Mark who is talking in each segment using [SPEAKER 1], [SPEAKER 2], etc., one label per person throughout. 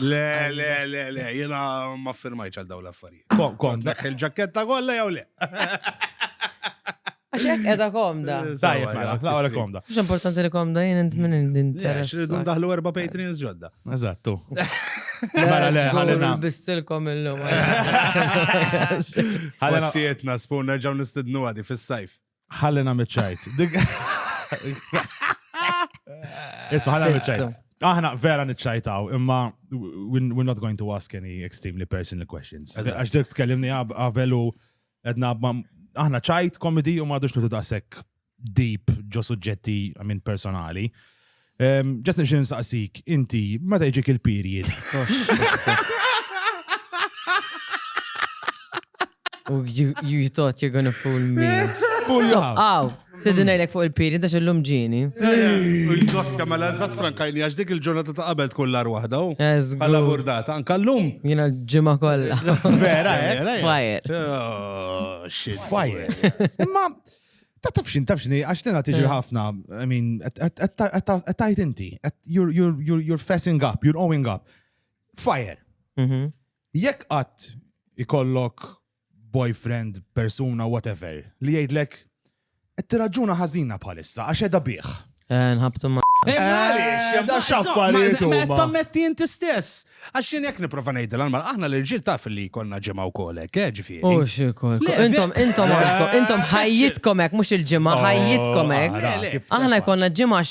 [SPEAKER 1] Le, le, le, le, jena ma firmajċ għal daw l-affarijiet. Kon, kon, dak
[SPEAKER 2] il-ġaketta
[SPEAKER 1] kolla jew le.
[SPEAKER 3] Għax hekk qiegħda komda. Tajjeb
[SPEAKER 2] mela, la wara komda. Mhux importanti li komda
[SPEAKER 3] jien int minn interess. Irridu ndaħlu erba'
[SPEAKER 1] Patreons ġodda. Eżattu.
[SPEAKER 3] Mela le ħalina.
[SPEAKER 2] Bistilkom illum.
[SPEAKER 1] Ħalina tietna spun nerġgħu nistidnu għadi fis-sajf. Ħalina miċċajt.
[SPEAKER 2] Isma ħalina miċċajt. Aħna vera niċċajtaw, imma we're not going to ask any extremely personal questions. Għax dik tkellimni għabelu. Edna, aħna ċajt komedi u madux li daqsek deep ġo suġġetti minn personali. Ġas nixin nsaqsik, inti, meta jġik il-period? You,
[SPEAKER 3] you thought you're gonna fool me. Fool you
[SPEAKER 2] how?
[SPEAKER 3] Tidin
[SPEAKER 2] għajlek fuq il-piri,
[SPEAKER 3] dax il-lum ġini. Il-gosta
[SPEAKER 1] ma l-għazzat frankajni għax dik il-ġurnata ta' qabel tkun l-ar wahda. Għala burdata,
[SPEAKER 3] anka
[SPEAKER 1] l-lum. Jina ġimma kolla.
[SPEAKER 3] Vera, vera. Eh, eh, eh.
[SPEAKER 2] Fire. Oh,
[SPEAKER 1] shit. Fire.
[SPEAKER 2] Imma, ta' tafxin, tafxin, għax tena tiġi ħafna, I mean, għattajt inti, you're fessing up, you're owing up. Fire. Mhm. Jekk għat ikollok boyfriend, persuna, whatever, li jgħidlek qed tirraġuna ħażina bħalissa għax edha bih. Eh, nħabtu ma.
[SPEAKER 3] Eh, eh, da
[SPEAKER 2] xaffariet u ma. Tammetti inti
[SPEAKER 1] stess. Għax jien jekk niprofa ngħid l-anmal, aħna l-irġiel taf li konna ġimgħa wkoll hekk, ġifieri. U xikol.
[SPEAKER 3] Intom intom intom ħajjitkom hekk mhux il-ġimgħa oh, ħajjitkom hekk. Aħna jkollna ġimgħa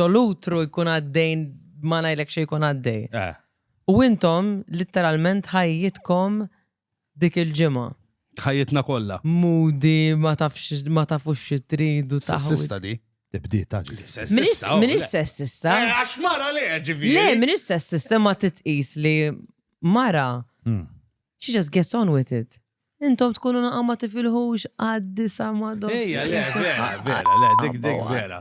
[SPEAKER 3] ġolutru jkun għaddejn ma ngħidlek xejn jkun għaddej. U intom literalment ħajjitkom dik il-ġimgħa. Ħajjitna kollha.
[SPEAKER 1] Mudi ma
[SPEAKER 3] tafx ma tafux xi tridu taħu. Sessista di. Tibdi
[SPEAKER 1] ta'
[SPEAKER 2] Sessista. Minix
[SPEAKER 3] sessista. Eh, għax mara le
[SPEAKER 1] ġifieri. Le, minix sessista
[SPEAKER 3] ma titqis li mara. Hmm. She just gets on with it. Intom tkunu naqqa ma tifilħux għaddi sa madom. Ejja, le, vera,
[SPEAKER 1] vera, le, dik dik vera.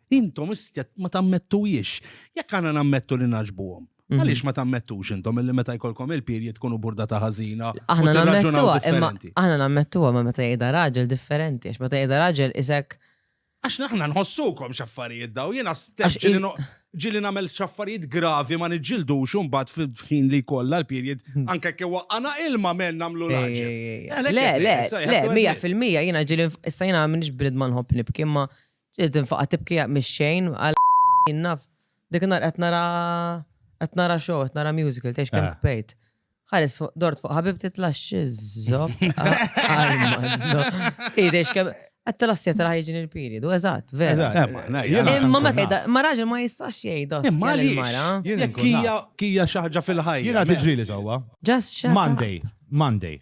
[SPEAKER 1] Intom istet ma tammettuhiex. Jekk għandna nammettu li naġbuhom. Mhm. Għaliex ma tammettux intom illi meta jkollkom il-period tkunu burda ta' ħażina. Aħna nammettuha,
[SPEAKER 3] imma aħna nammettuha ma meta jgħidha raġel differenti, għax meta jgħidha raġel isek. Għax naħna
[SPEAKER 1] nħossukom xaffarijiet daw, jiena stess ġili namel xaffarijiet gravi ma nġildu xumbat fil-ħin li kolla l-period, hmm. anke kewa għana ilma men namlu laġi. Le, le,
[SPEAKER 3] le, mija fil-mija jina ġili, issa jina minix brid manħob nibki, ma Ġiet infaqa' tibki mix-xejn għal jien naf. Dik in-nhar qed nara qed nara show, qed nara musical, tgħidx kemm kpejt. Ħares fuq dort fuq ħabibti tlax iżżob. Tgħidx kemm qed tilassja tara ħajġin il-period, u eżatt, vera. Imma meta ma raġel ma jistax jgħidha imma l-mara.
[SPEAKER 1] Kija kija xi ħaġa fil-ħajja. Jiena tiġri li sewwa.
[SPEAKER 2] Just Monday,
[SPEAKER 3] Monday.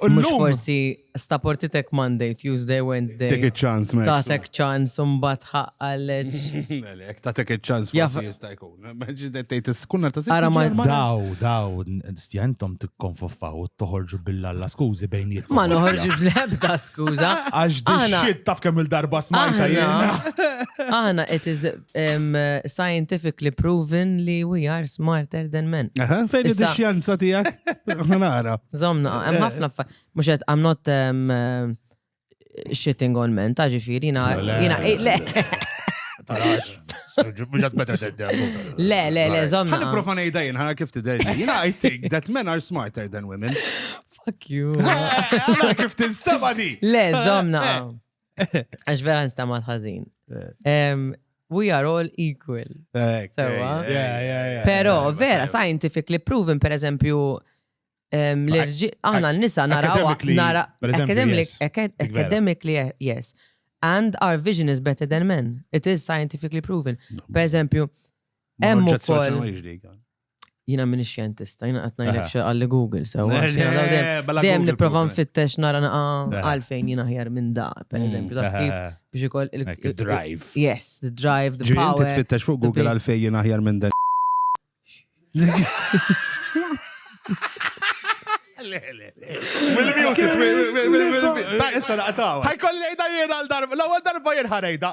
[SPEAKER 2] U Mux llum-
[SPEAKER 3] forsi sta portitek Monday, Tuesday, Wednesday. Take a chance, Max.
[SPEAKER 1] Tatek ċans un
[SPEAKER 3] bat ħaqqalleċ. Ek ta'
[SPEAKER 1] tek il-ċans Jaf- forsi jista' jkun. Maġi dettejt is-kunna ta' Ara ma- Daw,
[SPEAKER 3] daw,
[SPEAKER 2] stjantom tikkonfoffaw u toħorġu billalla skużi bejn jitkom. Ma noħorġu bl-ebda
[SPEAKER 3] skuza. Għax di Aħna- shit
[SPEAKER 2] taf kemm il-darba smajta Aħna, jiena. aħna
[SPEAKER 3] qed iż- Scientifically proven li we are smarter than men. Aha, fejn Issa- id-xjanza
[SPEAKER 1] tijak? Nara. Zomna, Eh, hemm
[SPEAKER 3] ħafna fa- mhux qed I'm not um, uh, shitting on men, ta' ġifieri jiena Le. jiena eh, le Tarax. Mux għad better than them. le le le Ħan zomna. profa nejda jien, ħana
[SPEAKER 1] kif tidej. Jien I think that men are smarter than women. Fuck you.
[SPEAKER 3] Għana kif
[SPEAKER 1] tinstaba di. Le zomna.
[SPEAKER 3] Għax vera nistamat ħażin. We are all equal. Sewa. Pero, vera, scientifically proven, per eżempju, aħna n-nisa naraw. Academically, yes. And our vision is better than men. It is scientifically proven. Per eżempju, emmu kol. Jina minni xjentista, jina għat najlek xe għalli Google, so. Dem li prova nfittex nara naqa għalfejn jina ħjar minn da, per mm, eżempju, ta' kif biex ikoll il-drive. Yes,
[SPEAKER 2] the drive,
[SPEAKER 3] the power. Ġin tfittex fuq Google għalfejn
[SPEAKER 1] jina ħjar minn dan. Issa naqtaw. Ħajkolli ejda jien għal darba, l-ewwel darba jien ħarejda.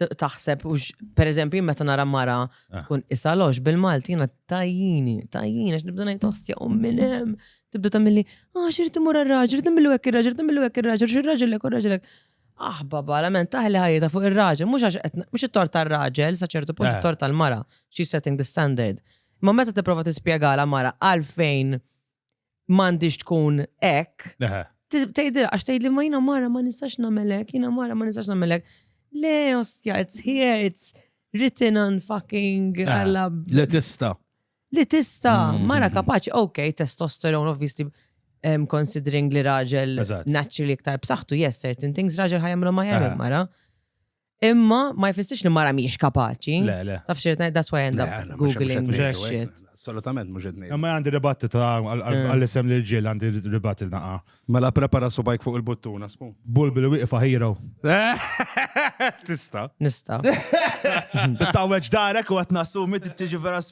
[SPEAKER 3] taħseb, per eżempju, meta nara mara ah. kun isalox bil-Malti jina tajjini, tajjini, għax nibda najt ostja u minnem, tibda tamilli, ah, xirrit imur għal-raġel, tamillu għek il-raġel, tamillu għek il-raġel, xirraġel għek il-raġel għek. Ah, baba, la men, taħli ħajta fuq il-raġel, mux għax, mux it-tort tal-raġel, saċertu punt eh. it-tort tal-mara, she's setting the standard. Ma meta t-prova t-spiegħala mara għalfejn m'għandix tkun hekk. Tgħidilha għax tgħidli ma jiena mara ma nistax nagħmelek, jiena mara ma nistax nagħmelek. Le, ostja, it's here, it's written on fucking għalla. Le tista.
[SPEAKER 1] Le tista,
[SPEAKER 3] mm-hmm. mara kapaċi, ok, testosteron, obviously, um, considering li raġel naturally iktar b'saħħtu, yes, certain things raġel ħajamlu ma jagħmel mara. Imma ma jfissirx li mara mhijiex kapaċi. Le, le. Taf xi ngħid
[SPEAKER 2] that's why I end
[SPEAKER 3] up googling this shit. Assolutament mhux qed ngħid.
[SPEAKER 1] Imma għandi ribatti ta'
[SPEAKER 2] għall-isem li ġiel għandi ribatti naqa. Mela prepara subajk
[SPEAKER 1] fuq il-buttuna smu. Bulbi li wieqfa hero.
[SPEAKER 2] Tista.
[SPEAKER 1] Nista.
[SPEAKER 2] Tawweġ darek u qed nassumi tiġi vera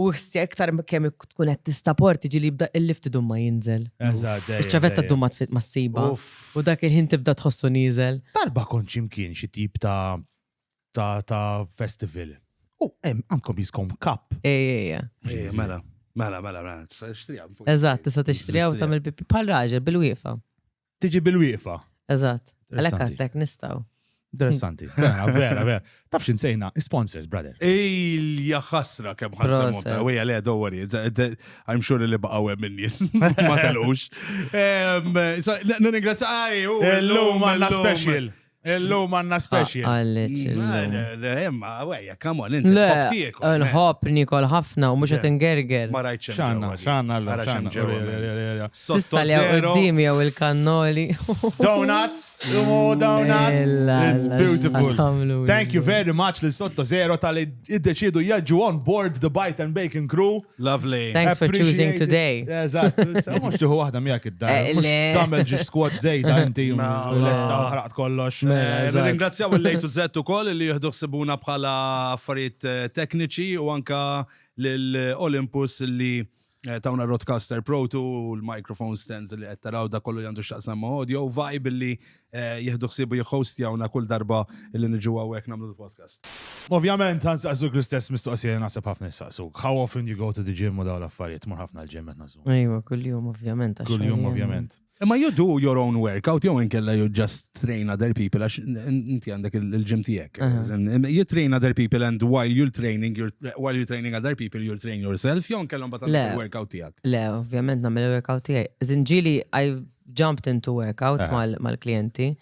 [SPEAKER 3] U ħssi iktar kemm tkun qed tistaport tiġi li jibda il-lift idum ma jinżel. Eżatt. Iċ-ċavetta ddum ma tfit ma ssiba. U dak il-ħin tibda tħossu nieżel. Darba kont xi mkien
[SPEAKER 2] xi tip ta' ta' festival. U hemm għandkom jiskom kap. Ej, ej, ej.
[SPEAKER 3] Mela,
[SPEAKER 1] mela, mela, mela. Tista' tixtriha.
[SPEAKER 3] Eżatt, tista' tixtriha u tagħmel bħal raġel bil-wieqfa. tiġi bil-wieqfa.
[SPEAKER 2] Eżatt. Għalhekk
[SPEAKER 3] għadlek nistgħu. Interessanti.
[SPEAKER 2] Vera, vera, vera. Taf xinsejna, sponsors, brother. Ejl, jaxasra
[SPEAKER 1] kem ħassemum ta' wija le, don't worry. I'm sure li baqaw hemm in-nies. Ma telqux. Ningrazzja, għaj, l-lum għanna
[SPEAKER 2] special. Illum għanna speċi. Għallet. Le,
[SPEAKER 1] imma, għajja, come on, inti tħob eh, Nħob nikol
[SPEAKER 3] ħafna u mux għet ngerger. Ma rajt xanna,
[SPEAKER 1] xanna, xanna.
[SPEAKER 2] Sissa li għoddim
[SPEAKER 3] jaw il-kannoli. Donuts,
[SPEAKER 2] umu donuts. It's beautiful. Thank you very much li sotto zero tal-id-deċidu jaġu on board the Bite and Bacon crew. Lovely. Thanks for
[SPEAKER 1] choosing
[SPEAKER 3] today. Eżatt, mhux
[SPEAKER 2] tieħu waħda miegħek id-dar. Eh, mhux tagħmel ġi squad żejda inti lesta u ħraqt kollox. Mela, eh, Ringrazzjaw
[SPEAKER 1] il-lejtu zett ukoll li jieħdu ħsibuna bħala affarijiet eh, tekniċi u anka l-Olympus li tawna Roadcaster Pro 2 u l-microphone stands li qed taraw da kollu għandu x'taqsam audio vibe li eh, jieħdu ħsiebu jihostjawna kull darba li niġu hawnhekk nagħmlu l-podcast. Ovvjament għan
[SPEAKER 2] saqsuk l-istess mistoqsija naħseb ħafna saqsuk. How often you go to the gym u daw l-affarijiet? Mur ħafna l-gym qed nażu. Ejwa, kuljum
[SPEAKER 3] ovvjament. Kuljum ovvjament.
[SPEAKER 2] Imma you do your
[SPEAKER 1] own workout, jew inkella you just train other people, għax inti għandek il-ġim tijek. You train other people and while you're training, you're, while you're training other people, you're training yourself, jew inkella mbagħad il-workout tijak. Le, ovvjament namel il-workout
[SPEAKER 3] tijak. Zinġili, I jumped into workouts mal-klienti.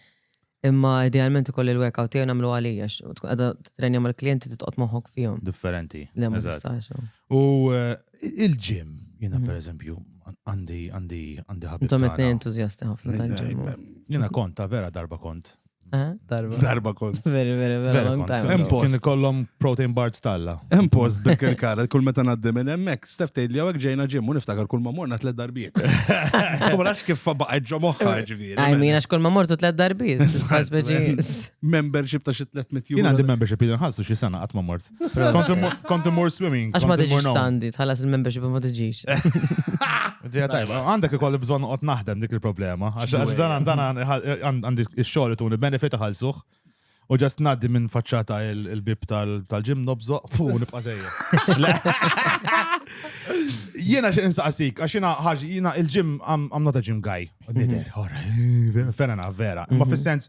[SPEAKER 3] Imma idealment ikoll il-workout tiegħi nagħmlu għalija, tkun qiegħda trenja mal-klijenti titqgħod moħħok fihom. Differenti. Le ma tistax. U eh, il-ġim, jiena mhm. pereżempju, għandi għandi għandi ħabib. Intom qed entużjasti ħafna tal-ġim. Jiena kont ta'
[SPEAKER 2] vera darba kont. Eh, darba. Darba
[SPEAKER 1] kont. Very, very, very long
[SPEAKER 3] time. Hemm post. Kien ikollhom
[SPEAKER 2] protein bar stalla. Hemm post dik il-kara,
[SPEAKER 1] kull meta ngħaddi minn hemmhekk, Stef tgħid li hawnhekk ġejna ġim u niftakar kull ma morna tliet darbiet. U ma nafx kif baqgħet ġo moħħa ġifieri. Għaj min għax kull ma mortu
[SPEAKER 3] tliet darbiet.
[SPEAKER 1] Membership ta' xi 300 euro. Jien għandi membership jien ħassu
[SPEAKER 2] xi sena qatt ma mort. Kont immur swimming. Għax ma tiġix sandi,
[SPEAKER 3] tħallas il-membership ma tiġix. Ġeja tajba, għandek
[SPEAKER 2] ikolli bżon qot naħdem dik il-problema. Għax dan dan għandi x-xogħol tuni benefit ħalsuh. U ġast naddi minn faċċata il-bib tal-ġim nobżo, fu nibqa' sejja. Jiena xi insaqsik, għax jiena ħaġi jiena il-ġim għam not a gym guy. Nider, ora, fena vera. Ma mhm. fis-sens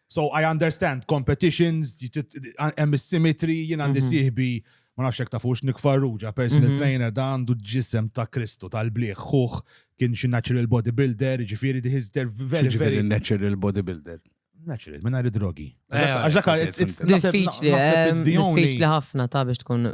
[SPEAKER 2] So I understand competitions, hemm is-symmetry, jien għandi mhm. sieħbi ma nafx hekk tafux Nick Farrugia, personal mhm. trainer da għandu ġisem ta' Kristu tal-bliħ, ħuħ kien xi natural bodybuilder, ġifieri diħiż der very very natural bodybuilder.
[SPEAKER 1] Natural, minn għari
[SPEAKER 2] drogi. Eh, għax dak diffiċli,
[SPEAKER 3] eh, diffiċli ħafna ta' biex tkun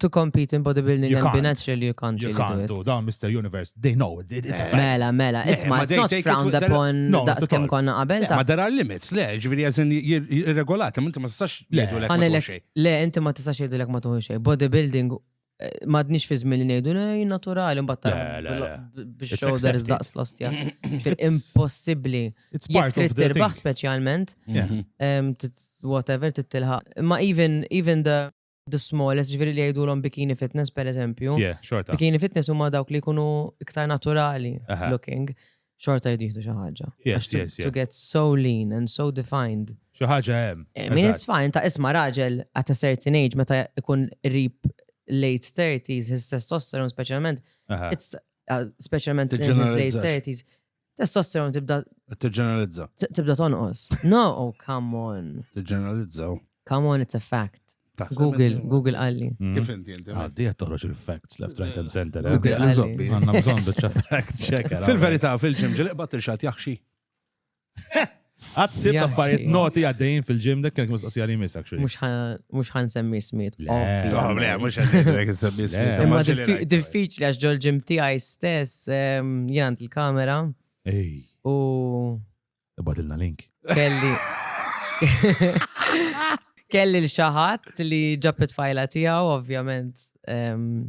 [SPEAKER 3] to compete in bodybuilding and be natural you can't. You can't, da' Mr. Universe. They
[SPEAKER 2] know, it's a fact. Mela, mela, isma, it's
[SPEAKER 3] not frowned upon daqs kem konna qabel ta' Ma there are limits, le,
[SPEAKER 1] ġviri għazin jirregolati, ma inti ma tistax jgħidu l-ek ma xej. Le, inti ma tistax jgħidu
[SPEAKER 3] l-ek ma tuħu xej. Bodybuilding, eh, ma dnix fi zmin li nejdu, ne, naturali, mbatta. Bix shoulders daqs lost, ja. Impossibli. It's part of the thing. specialment, mhm. whatever, tittilħa. Ma even, even the the smallest, ġviri li jgħidulhom bikini fitness per eżempju. Yeah, xorta. Bikini fitness huma dawk li jkunu iktar naturali Aha. looking, xorta jidħdu xi ħaġa. Yes, Għax to- yes, yeah. To get so lean and so defined. Xi ħaġa hemm.
[SPEAKER 2] I mean, it's fine, ta'
[SPEAKER 3] isma raġel at a certain age, meta ikun rib late 30s, his testosterone specialment, Aha. it's uh, specialment in his late Tiġġeneralizzax. 30s, Testosteron tibda. Tiġġeneralizza. Tibda tonqos. No, oh, come on. Tiġġeneralizza. Oh.
[SPEAKER 1] Come on, it's a
[SPEAKER 3] fact. Google, Google għalli. Mm. Kif inti inti? Għaddi
[SPEAKER 1] għed toħroġ
[SPEAKER 2] il-facts left, right and center. Eh? Google għalli zobbi. Għanna bżon
[SPEAKER 1] bieċa fact
[SPEAKER 2] checker. Fil-verita, fil-ġim
[SPEAKER 1] ġiliq bat il-xat jaxxi.
[SPEAKER 2] Għad sibt affarijiet noti għaddejjin fil-ġim dak kienet mistoqsija li jmiss actually. Mhux ħan semmi
[SPEAKER 3] smiet. Le, mhux
[SPEAKER 1] ħan semmi smiet. Imma diffiċli
[SPEAKER 3] għax ġol ġim tiegħi stess ehm, jien għand il-kamera. Ej.
[SPEAKER 2] U. Ibadilna link. Kelli.
[SPEAKER 3] Kelli l-xaħat li ġabet fajla tiegħu, ovvjament. Ehm,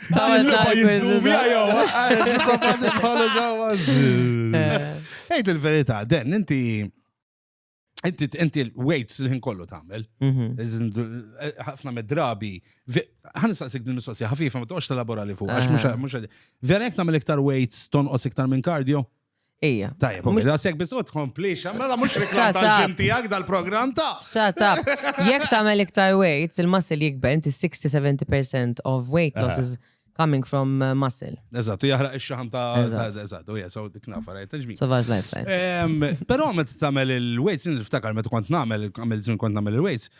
[SPEAKER 1] Dan il-logħba jiżżumi jew. Ejt il-verità, den inti inti inti l-weights li ħin kollu tagħmel. Mhm. Ħafna mid-drabi. Ħan nistaqsik din mistoqsija ħafifa ma toqgħodx telabora li fuq għax mhux vera jekk tagħmel iktar weights tonqos iktar minn kardio. Ija. Tajjeb,
[SPEAKER 3] u mela sekk biss
[SPEAKER 1] u tkomplix, mela mhux reklam tal-ġim tiegħek dal-programm ta'. Shut up.
[SPEAKER 3] Jekk tagħmel iktar weight, il-muscle jikber, inti 60-70% of weight loss is coming from uh, muscle. Eżatt, u jaħraq ix-xaħam
[SPEAKER 1] ta' eżatt, u jasaw dik nafa rajt il-ġmi. Savage lifestyle.
[SPEAKER 3] Però meta tagħmel
[SPEAKER 1] il-weights, niftakar meta kont nagħmel, għamil żmien kont nagħmel il-weights,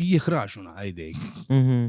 [SPEAKER 1] jihraxuna għajdejk. Mhm.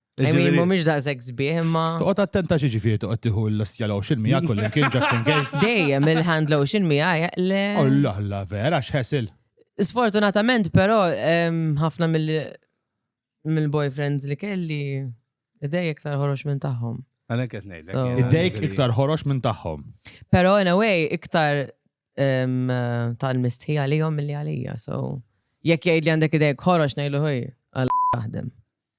[SPEAKER 3] Ġifieri mhumiex daqshekk sbieħ imma. Toqgħod attenta xi ġifieri
[SPEAKER 2] toqgħod tieħu l-lostja lotion miegħek u l-imkien just in case. Dejjem il-hand lotion
[SPEAKER 3] miegħi le. Allah Allah vera
[SPEAKER 2] x'ħesil. Sfortunatament
[SPEAKER 3] però ħafna mill-boyfriends li kelli idej iktar ħorox minn tagħhom. Għana qed
[SPEAKER 1] ngħidlek. Idejk iktar ħorox
[SPEAKER 2] minn tagħhom. Però in a way
[SPEAKER 3] iktar tal-mistħija li jom mill-li għalija, so jekk jgħid li għandek idejk ħorox ngħidlu ħoj għal taħdem.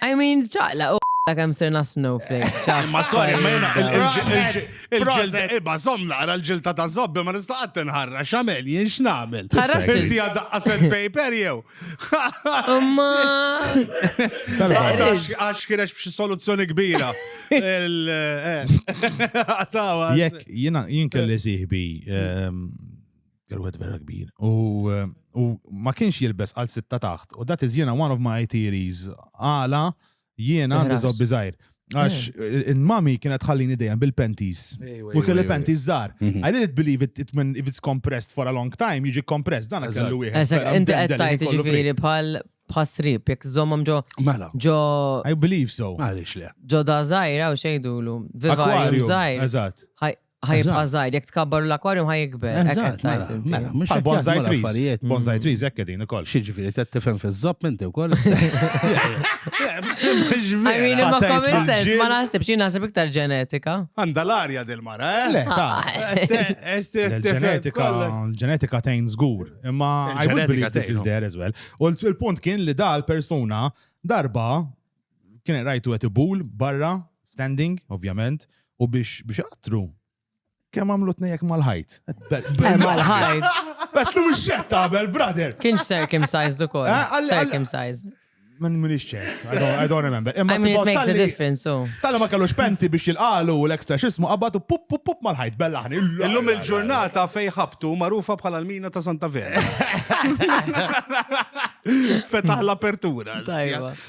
[SPEAKER 3] I mean, ċaqla u kemm sirna snowflakes. Ma sorry, ma jena
[SPEAKER 1] il-ġilda, iba, zom naqra l-ġilda ta' zobbi, ma nista' għad tinħarra, xamel, jien x'namel. Inti għad għasel paper jew. Ma. Għax kienex b'xi soluzzjoni kbira.
[SPEAKER 2] Jek, jien kelli siħbi ehm, Kien wieħed vera kbir. U ma kienx jilbes għal sitta taħt. U that is jiena one of my theories. Għala jiena għandi zobbi zaħir. Għax eh. il-mami kienet ħallini dejjem bil-penties. U kelli penties zar. Mhm. I didn't believe it, it when if it's compressed for a long time, jiġi compressed, dan kellu wieħed. Eżak, inti qed tajt ġifieri
[SPEAKER 3] bħal bħasrib, jek zomom ġo. Mela. Ġo. I believe
[SPEAKER 2] so. Għalix le. Ġo da
[SPEAKER 1] zaħira u
[SPEAKER 3] xejdulu. Viva zaħir. Eżat.
[SPEAKER 2] Ħajibqa' żgħir,
[SPEAKER 3] jekk tkabbar l-akwarjum ħajikber. Eżatt, mela, mela, mhux
[SPEAKER 2] Bħal bonsai jaħdmu trees. l-affarijiet. Bonsai trees hekk qegħdin ukoll. Xi ġifieri qed tifhem
[SPEAKER 1] fiż-żapp inti wkoll?
[SPEAKER 3] I mean, ma Ħatajt common l-ġil. sense, ma naħsibx, jien naħseb iktar ġenetika. Għandha l-arja
[SPEAKER 1] dil-mara, eh? Le, ta.
[SPEAKER 2] Il-ġenetika, il-ġenetika tgħin żgur, imma I would Il-ġenetika believe this tgħin, is no. there as well. U l- il-punt kien li dal persuna darba kien rajtu qed ibul barra, standing, ovvjament, u biex biex għattru. Kemm għamlu tnejjek mal-ħajt? Eh, mal-ħajt.
[SPEAKER 3] Betlu
[SPEAKER 2] mhux xett tagħmel, brother. Kienx circumcised
[SPEAKER 3] ukoll. Eh, circumcised. Man minix
[SPEAKER 2] ċert, I don't remember. Imma it makes a
[SPEAKER 3] difference, so. Tala ma kellux penti
[SPEAKER 2] biex jilqalu u l-ekstra xismu qabbatu pup pup pup mal-ħajt bellaħni. Illum il-ġurnata
[SPEAKER 1] fej ħabtu marufa bħala l-mina ta' Santa Vera. Fetaħ l-apertura.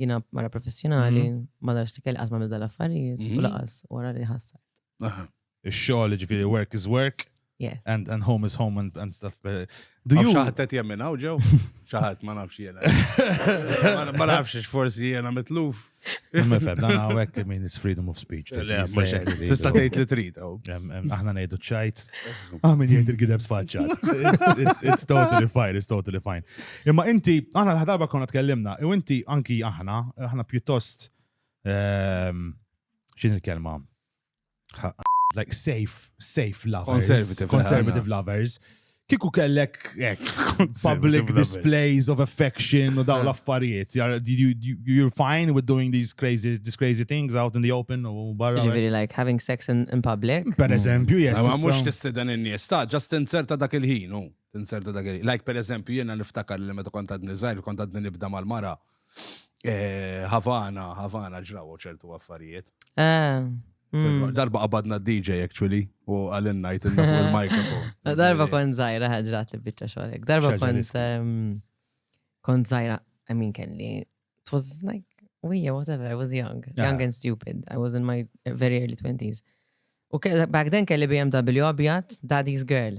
[SPEAKER 3] Jina mara professjonali, mhm. ma darx li kelli għatma mibda l-affarijiet, u mhm. laqas, u għara li ħassart. Ix-xogħol
[SPEAKER 2] ġifieri work is work. Yes. And, and home
[SPEAKER 3] is home
[SPEAKER 2] and, and stuff. Do you xaħat
[SPEAKER 1] qed jemmin hawn ġew? Xaħat ma nafx jiena. Ma nafx forsi jiena mitluf. Imma fem, dan
[SPEAKER 2] hawnhekk min is freedom of speech. Tista'
[SPEAKER 1] tgħid li trid oh. Aħna ngħidu
[SPEAKER 2] ċajt. Aħmin ah, jgħid il-gideb sfaċċat. It's totally fine, it's totally fine. Imma inti, aħna l-ħadarba konna tkellimna, u inti anki aħna, aħna pjuttost, ehm, xin il-kelma? Like safe, safe lovers. Conservative. Conservative lovers. Kiku kellek ek, public displays of affection u daw l-affarijiet. You're fine with doing these crazy, these crazy things out in the open u barra. Ġiviri, like having sex
[SPEAKER 3] in, in public. Per eżempju, yes.
[SPEAKER 2] Ma mux testidan in-nies,
[SPEAKER 1] ta' just inserta dak il-ħin. Tinserta dak il Like per eżempju jiena niftakar li meta kont għadni żgħir kont għadni nibda mal-mara. Eh, Havana, Havana ġraw ċertu affarijiet. Eh, mm. Darba qabadna d-DJ actually u għalin najt il mikrofon Darba kont
[SPEAKER 3] żgħira ħaġrat li biċċa xogħlek. Darba kont ehm, kont żgħira I mean kelli it was like we yeah, whatever, I was young, young and stupid. I was in my very early 20s. U back then kelli BMW abjad, daddy's girl.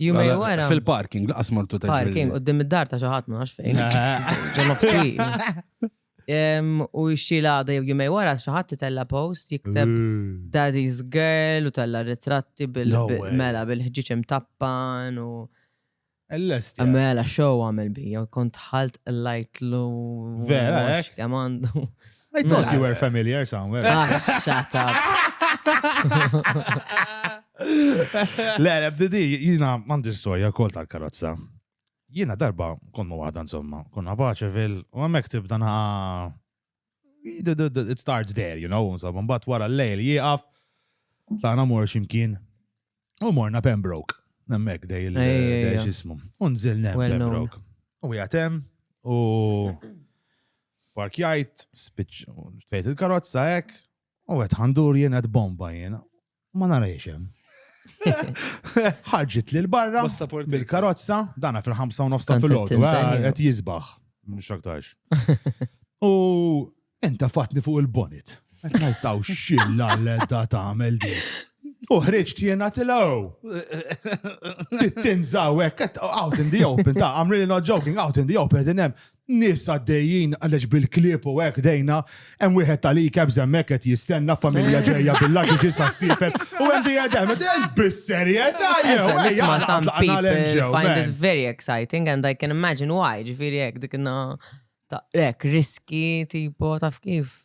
[SPEAKER 3] Jumej
[SPEAKER 2] Mela, wara.
[SPEAKER 3] Fil-parking, laqas mortu
[SPEAKER 1] ta' Parking, u d-dim id-dar ta'
[SPEAKER 3] xaħat ma nafx fejn. Ġon of U xxila għada jew jumej wara xaħat titella post jikteb Daddy's Girl u tella ritratti bil-mela bil-ħġiċ imtappan u. Ellest. Mela show għamil bi, jew kont ħalt l-lajt lu. Vera,
[SPEAKER 2] ek? Jamandu.
[SPEAKER 3] I thought you
[SPEAKER 2] were familiar somewhere. Ah, shut up. Le, le, bdidi, jina għandi storja kol tal-karozza. Jina darba konna waħda insomma, konna paċevil, u għamek tibda na. It starts there, you know, insomma, mbatt wara l-lejl jieqaf, tana mor ximkien, u morna Pembroke, nemmek dej il-xismu, unżil nem Pembroke. U jgħatem, u parkjajt, spiċ, fejt il-karozza ek, u għet ħandur jena bomba jena, Ma nara jiexem. ħarġit li l-barra bil-karozza, dana fil-5 nofs ta' fil-ħodu, għet jizbaħ, mux aktarx. U enta fatni fuq il-bonit. Għet najtaw xilla l-edda ta' għamel di. U ħriġt jena tilaw. Tinżaw, għet out in the open, ta' I'm really not joking, out in the open, għedinem. Nies għaddejjin għaliex bil-klieb u hekk dejna, hemm wieħed tal-ikebs hemmhekk qed jistenna familja ġejja bil-lagġiġi sas-siefel u hemm dejja dem bis-serjetà jew nisma'
[SPEAKER 3] some people find it very exciting and I can imagine why, ġifieri hekk dik ta' hekk riski tipo taf kif.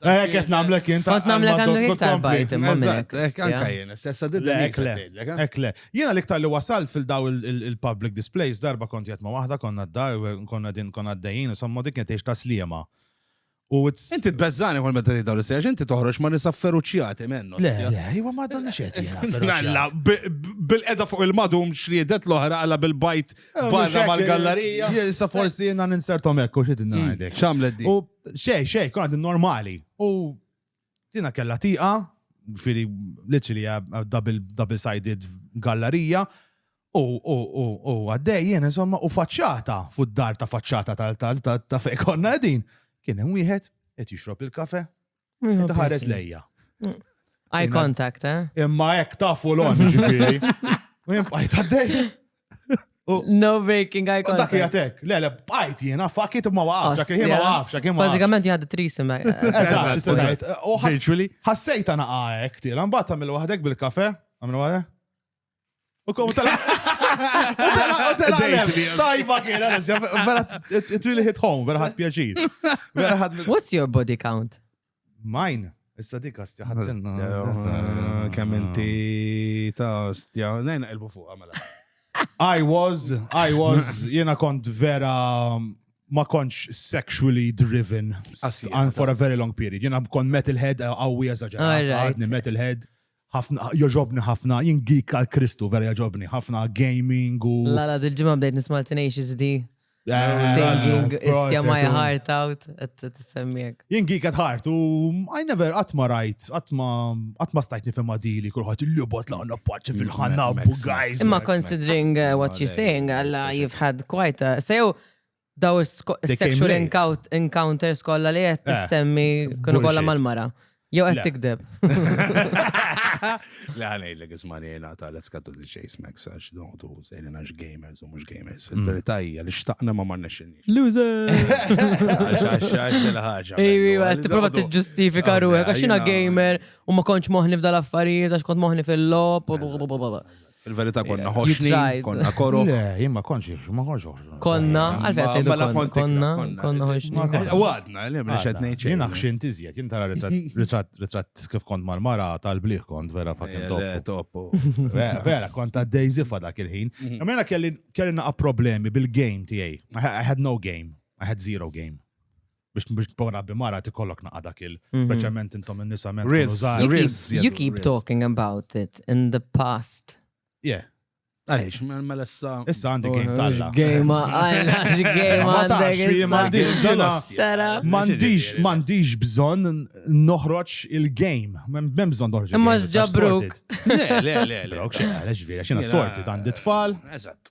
[SPEAKER 1] Eh, qed nagħmlek
[SPEAKER 2] int. Kont nagħmlek għandek iktar bajt
[SPEAKER 3] imma minnek. Anka jien, stessa
[SPEAKER 1] didda. Ekle.
[SPEAKER 2] Jiena l-iktar li wasalt fil-daw il-public displays darba kont jgħat ma' waħda konna d-dar, konna din konna d-dejjin, insomma dik qed ta' sliema.
[SPEAKER 1] Inti t-bezzani għal meta daw l-sejġ, inti toħroġ ma nisafferu ċjati mennu. Le, le, jwa ma donna
[SPEAKER 2] xet jgħalla.
[SPEAKER 1] Bil-edha fuq il-madum xriedet l-oħra għalla bil-bajt eh, barra mal-gallerija. Jissa forsi jina
[SPEAKER 2] ninsertom ekku xedin għadek. Mm, Xamlet di.
[SPEAKER 1] Xej, xej, kon
[SPEAKER 2] għadin normali. U dina kella tiqa, firi literally double-sided gallerija, u għaddej jena insomma u faċċata fud dar ta' faċċata ta' fej konna għedin. Kien hemm wieħed qed jixrob il-kafe, qed ħares lejja. Mm. Eye
[SPEAKER 3] contact, eh? Imma hekk
[SPEAKER 2] tafu l-on ġifieri. U jimbqajt għaddej.
[SPEAKER 3] No breaking eye contact. Dak jgħatek, le, le, bajt
[SPEAKER 2] jena, fakit ma waqaf, dak jgħim ma waqaf, dak jgħim ma waqaf. Bazzikament jgħad trisim.
[SPEAKER 3] Eżat, istatajt.
[SPEAKER 2] Virtually. Ħassejt għana għaek, tira, mbatt għamil wahdek bil-kafe, għamil wahdek. U kom tala. Tajba kien, vera, it really hit home, vera ħad pjaċir. What's
[SPEAKER 3] your body count? Mine?
[SPEAKER 2] Issa dik astja ħattilna.
[SPEAKER 1] Kemm inti ta' astja. Nejna ilbu fuq għamela. I was,
[SPEAKER 2] I was, jena kont vera ma kontx sexually driven and for a very long period. Jena kont metalhead għawi għazagġa. Għadni metalhead. ħafna, joġobni ħafna, jien geek għal Kristu, vera joġobni ħafna gaming u. La la dil-ġimgħa bdejt nisma'
[SPEAKER 3] Tenacious D. Eh, Singing, istja my heart out, t-semmiek. Jien geek at heart
[SPEAKER 2] u I never atma rajt, atma atma stajt nifhem dili kulħadd il-lubot la għandna paċi fil-ħanna guys. Imma considering
[SPEAKER 3] uh, what you're saying, Allah you've had quite a so Daw is-sexual encounters kollha li qed eh, tissemmi kienu kollha mal-mara. Jew qed tikdeb.
[SPEAKER 1] Le ħanejdlek ismani jena ta' let's cut to the chase Max għax noqtu sejlina gamers u mhux gamers. Mm. Il-verità hija li xtaqna ma marna xinni. Loser!
[SPEAKER 3] Għax
[SPEAKER 1] għax dela ħaġa. Ejwi, għed tipprova
[SPEAKER 3] tiġġustifika ruħek għax jiena gamer u ma kontx moħni f'dal affarijiet għax kont moħni fil-lop u
[SPEAKER 1] Il-verità konna ħoxni, konna koro. Le, jien ma konx,
[SPEAKER 2] ma konx ħoxni. Konna,
[SPEAKER 3] għalfejn tgħidu mela konna, konna, konna ħoxni. Għadna, le, mhux
[SPEAKER 1] qed ngħid xejn. Jien aħxin tiżjed, jien
[SPEAKER 2] tara ritratt ritratt kif kont mal-mara tal-bliħ kont vera fakin eh, toppu. Vera, kont ta' Daisy fa dak il-ħin. Mhm. Mela kelli kelli naqa' problemi bil-game tiegħi. I had no game. I had zero game. biex biex tbora bi mara tikollok naqa dak il mhm. speċjalment intom in-nisa men You
[SPEAKER 3] keep talking about it in the past. Yeah.
[SPEAKER 2] Għalix,
[SPEAKER 1] mela issa. Issa għandi oh, game talla.
[SPEAKER 2] Game għalla, game għalla. Sara. Mandiġ, mandiġ bżon noħroċ il-game. Mem bżon noħroċ. Imma ġabruk.
[SPEAKER 3] Le,
[SPEAKER 1] le, le. Brok, xena, għalix
[SPEAKER 2] vera, xena sorti, għandi tfal. Eżatt.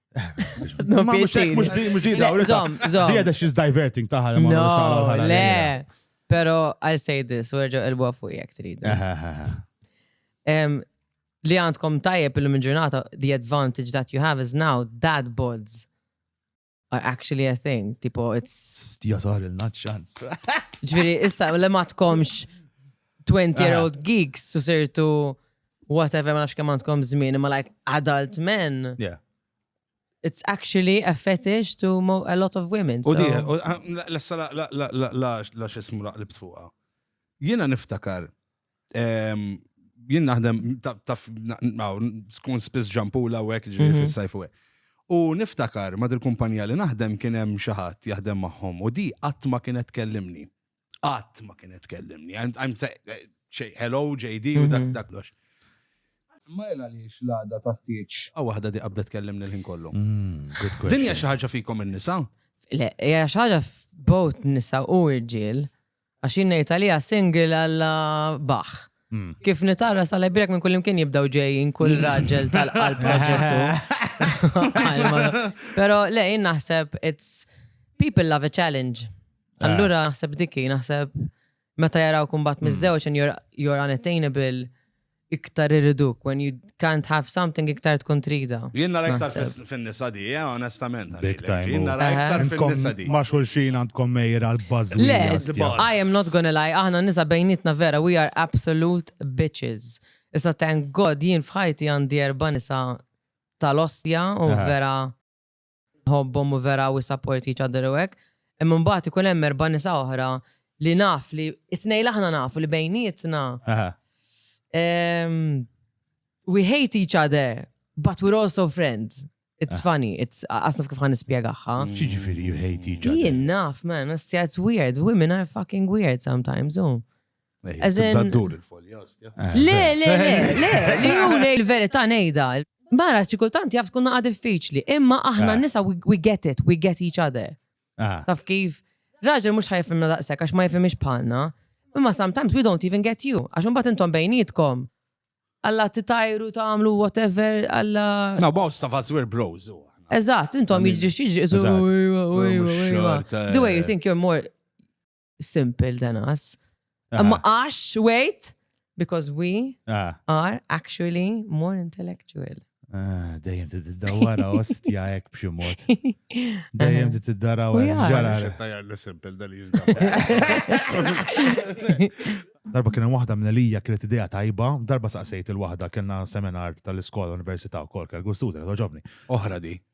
[SPEAKER 3] Ma mux hekk, mux
[SPEAKER 2] di, mux di, daw. Le, zom, zom. Di għedha she's
[SPEAKER 3] diverting
[SPEAKER 2] taħal. ma No, nagħmlux taħal għal ħalal. le.
[SPEAKER 3] Pero I'll say this, werġa il-bwa fuq jek trid. Eh, eh, eh, eh. Em, Li għandkom tajjeb illum il-ġurnata, the advantage that you have is now dad bods are actually a thing. Tipo, it's Stja sar il-nat
[SPEAKER 2] ċans. Ġviri, issa,
[SPEAKER 3] li ma tkomx 20 year old geeks, u sirtu whatever ma nafx kemm għandkom żmien, imma like adult men. Yeah.
[SPEAKER 2] It's
[SPEAKER 3] actually a fetish to mo- a lot of women. U So. di, u- ah, la-
[SPEAKER 1] lessa la- la- la- la- la- la xismu la- li btfuqa. Jena niftakar, em, jien naħdem, ta- taf, na- naw, skun spiss ġampula u għek ġiri Mhm. fil-sajf u għek. U niftakar ma dil-kumpanija li naħdem kien hemm xi ħadd jaħdem magħhom u di qatt ma kienet kellimni. Qatt ma kienet tkellimni. I'm eh, hello JD u dak mhm. dak lox. Ma jela li xlada ta' tiċ. Għaw wahda di qabda tkellimni l-ħin kollu. Mm, Dinja xaħġa fikom il-nisa? Le, hija
[SPEAKER 3] xaħġa f-bot nisa u irġiel. Għax jinnejt għalija single għalla baħ. Hmm. Kif nitara sa lajbirek minn kullimkien jibdaw ġejjin kull raġel tal-qalb ta' Ġesu. Pero le, jien naħseb, it's people love a challenge. Ah. Allura naħseb dikki, naħseb meta jaraw kumbat hmm. mizzewċ and you're, you're unattainable, iktar irriduk when you can't have something iktar tkun trida. Jien nara iktar
[SPEAKER 1] fin-nisa di, eh, onestament. Big time. Jien nara
[SPEAKER 2] iktar fin-nisa
[SPEAKER 1] di. Ma xulxin għandkom
[SPEAKER 2] mejra l-bazzi. Le,
[SPEAKER 3] I am not gonna lie, aħna nisa bejnietna vera, we are absolute bitches. Issa thank God jien fħajti għandi erba nisa tal-ostja u vera. nħobbhom u vera we support each other u hekk. Imma mbagħad ikun hemm erba' nisa oħra li naf li it-tnejn aħna nafu li bejnietna. Ehm, we hate each other, but we're also friends. It's ah. funny, it's asna kif ħan nispjegaħħa. Mm. Xiġifieri you hate
[SPEAKER 2] each other? Jien naf, man,
[SPEAKER 3] it's weird. Women are fucking weird sometimes, oh. Dur il-folja. Le, le, le, le, li hu nej il-verità nejda. Mara, ċikultant jaf tkun naqa diffiċli, imma aħna nisa we get it, we get each other. Taf kif, raġel mux ħajfimna daqsek, għax ma jfimix bħalna, imma sometimes we don't even get you, għax un bat intom bejnietkom. Alla titajru tamlu whatever, alla. No, most of us
[SPEAKER 1] were bros. Eżat, intom
[SPEAKER 3] jiġri xieġri, iżu. The way you think you're more simple than us. Ah. Imma għax, wait, because we ah. are actually more intellectual. Ah, dejjem
[SPEAKER 2] ti tiddawara ostja ek b'xi mod. Dejjem ti tiddawara ġara. Tajjar li simple dal
[SPEAKER 1] jizgħu.
[SPEAKER 2] Darba kien waħda minn Elija kienet idea tajba, darba saqsejt il-waħda kienna seminar tal-iskola università wkoll kell gustuża, ġobni. Oħra di.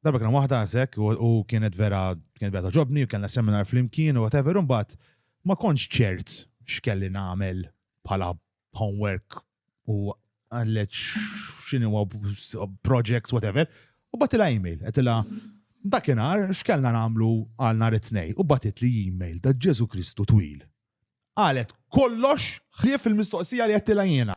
[SPEAKER 2] Darba kien waħda għażek u kienet vera kienet vera ġobni u kellna seminar flimkien u whatever u mbagħad ma kontx ċert x'kelli nagħmel bħala homework u għallet x'inhu projects whatever u batilha email qedilha dakinhar x'kellna nagħmlu għal nhar it-tnej u batit li email da Ġesu Kristu twil. Qalet kollox ħlief il-mistoqsija li qedtilha jiena.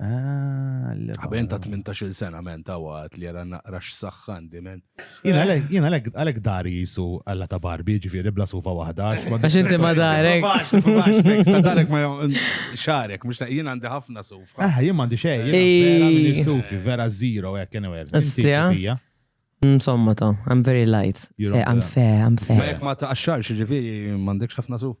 [SPEAKER 1] Ah, Għaben ta' 18 sena men ta' għat li għara naqra x-saxħan di men. Jina għalek
[SPEAKER 2] għalek dari jisu għalla ta' barbi ġifiri bla sufa wahda. Għax inti ma
[SPEAKER 3] darek. Ta'
[SPEAKER 1] darek ma xarek, mux ta' jina għandi ħafna sufa. Ah, jina għandi xej, jina
[SPEAKER 2] għandi sufi, vera zero, għek, għenu għer. Insomma
[SPEAKER 3] ta' I'm very light. I'm fair, I'm fair. Ma jek ma ta' xarx
[SPEAKER 1] ġifiri mandekx ħafna sufa.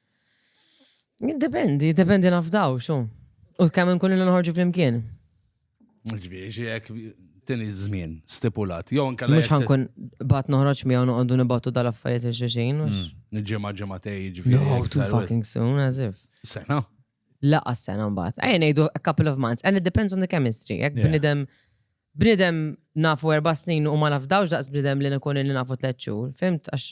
[SPEAKER 1] Dependi,
[SPEAKER 3] dependi nafdaw, xo. U kemm nkun li nħorġu flimkien. Ġviri,
[SPEAKER 1] xie jek tini zmin stipulat. Jo, anka Mux ħankun
[SPEAKER 3] bat noħroġ miegħu noqogħdu nibattu dal-affarijiet il-xuxin. Mm, ġimgħa ġimgħatej
[SPEAKER 1] ġviri. No, too fucking
[SPEAKER 3] soon, as if. Sena?
[SPEAKER 1] Laqa sena
[SPEAKER 3] mbagħad. Ejja ngħidu a couple of months and it depends on the chemistry. Jekk bnidem bnidem nafu erba' snin u ma nafdawx daqs bnidem li nkun li nafu tliet xhur. Fimt għax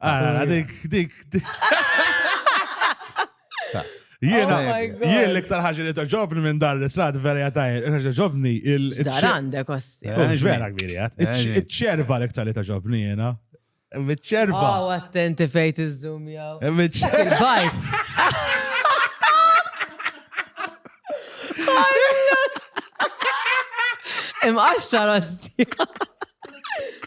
[SPEAKER 1] Ah,
[SPEAKER 2] dik, dik, dik. Jiena, Oh my God. jien l-iktar ħaġa li toġobni minn dar l-israt vera jatajn, ħaġa ġobni il. Dar għandek
[SPEAKER 3] osti. Eh, Mhux vera kbiri għat.
[SPEAKER 2] Eġni. Iċ-ċerva l-iktar li toġobni jiena. Iċ-ċerva. Aw, attenti
[SPEAKER 3] fejt iż-zoom jaw. Iċ-ċerva. Il-bajt. Imqaxxar osti.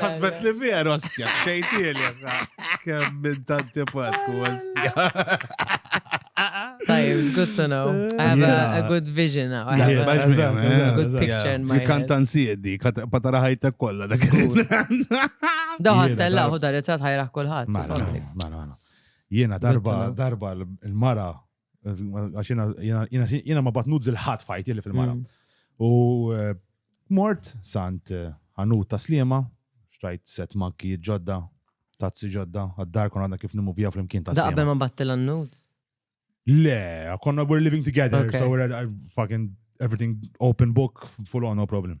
[SPEAKER 1] Ħasbet li vera ostja, xejtieli. Kemm minn tanti patku ostja.
[SPEAKER 3] Tajib, it's good to know. I have a, a good vision now. I have a, a good picture in my head. Kantan siedi,
[SPEAKER 1] patara ħajta kolla dak.
[SPEAKER 3] Daħat tella, hu dar it-tat ħajraħ kullħat. Mara, mara, mara.
[SPEAKER 2] Jiena darba, darba l-mara Għax jena ma batnut zil-ħat fajt li fil-mara. Mm. U eh, mort sant eh, ħanut ta' slima, xtrajt set makki ġodda, tazzi ġodda, għaddar kon għadna kif nimuvija fl-imkien ta' slima. Daqbel ma battel għannut?
[SPEAKER 3] Le,
[SPEAKER 2] konna we're living together, so we're uh, fucking everything open book, full on, no problem.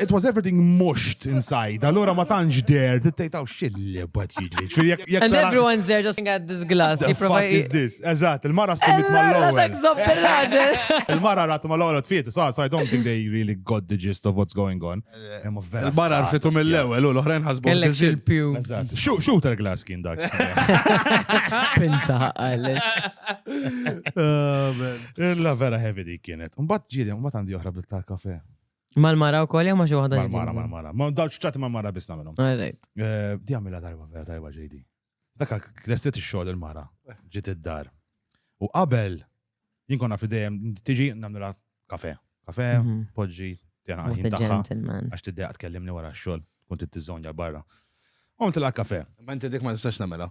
[SPEAKER 2] It was everything mushed inside, allora ma tantx der, tittejtaw xilli bad jidli. And everyone's
[SPEAKER 3] there just at this glass. What the fuck is this?
[SPEAKER 2] Eżat, il-mara s-sumit mal-lowel. Il-mara rat mal-lowel t-fiet, so I don't think they really got the gist of what's going on. Eh, il-mara
[SPEAKER 1] rfitu mill-lowel, u l-oħrajn ħasbu. Kellek il-pew.
[SPEAKER 3] Shooter glass
[SPEAKER 2] kien dak. Pinta
[SPEAKER 3] għalli. Oh,
[SPEAKER 2] Illa vera heavy dik kienet. Un bat ġiri, un bat għandi oħra bil-tar kafe. Mal-mara
[SPEAKER 3] u koll jew ma xi waħda Mal-mara, mal-mara. Ma dawċ ċati
[SPEAKER 2] mal-mara bisna minnhom. Alright. Eh, di għamila darba vera tajba ġejdi. Dak klestet ix-xogħol il-mara, ġiet id-dar. U qabel jinkonna fidejjem tiġi nagħmilha kafe. Kafe, mhm. poġġi, tjena għajn tagħha. Għax tiddejja tkellimni wara x-xogħol, kont t-tizzonja barra. Għom tilha kafe. Ma inti dik ma tistax
[SPEAKER 1] nagħmilha.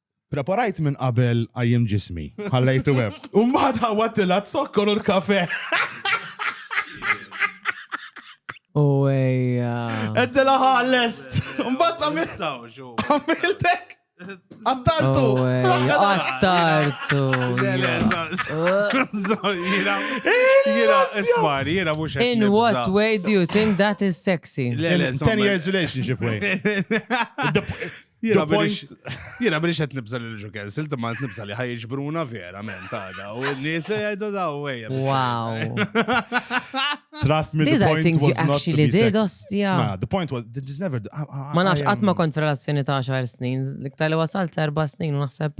[SPEAKER 2] Preparajt minn qabel qajjimt ġismi, ħallejtu hemm. U mbagħad ħawwadtilha z-zokkor u l-kafè.
[SPEAKER 3] U ejja. Għedtilha ħa
[SPEAKER 2] lest. U mbagħad għamilt. Għamiltek. Għattartu!
[SPEAKER 3] Għattartu! Jira,
[SPEAKER 1] jira, ismar, jira mux In what way
[SPEAKER 3] do you think that is sexy? Le, le, 10 years
[SPEAKER 2] relationship way.
[SPEAKER 1] Jiena minix qed nibża lil ġu cancel, imma qed nibża li ħajġbruna verament għada. U n-nies jgħidu daw ejja. Wow.
[SPEAKER 2] Trust me, the point was not to be said. Ma,
[SPEAKER 3] the
[SPEAKER 2] point was,
[SPEAKER 3] this
[SPEAKER 2] never... Ma nafx, għatma
[SPEAKER 3] kont relazzjoni ta' 10 snin, liktar li wasalt 4 snin, u naħseb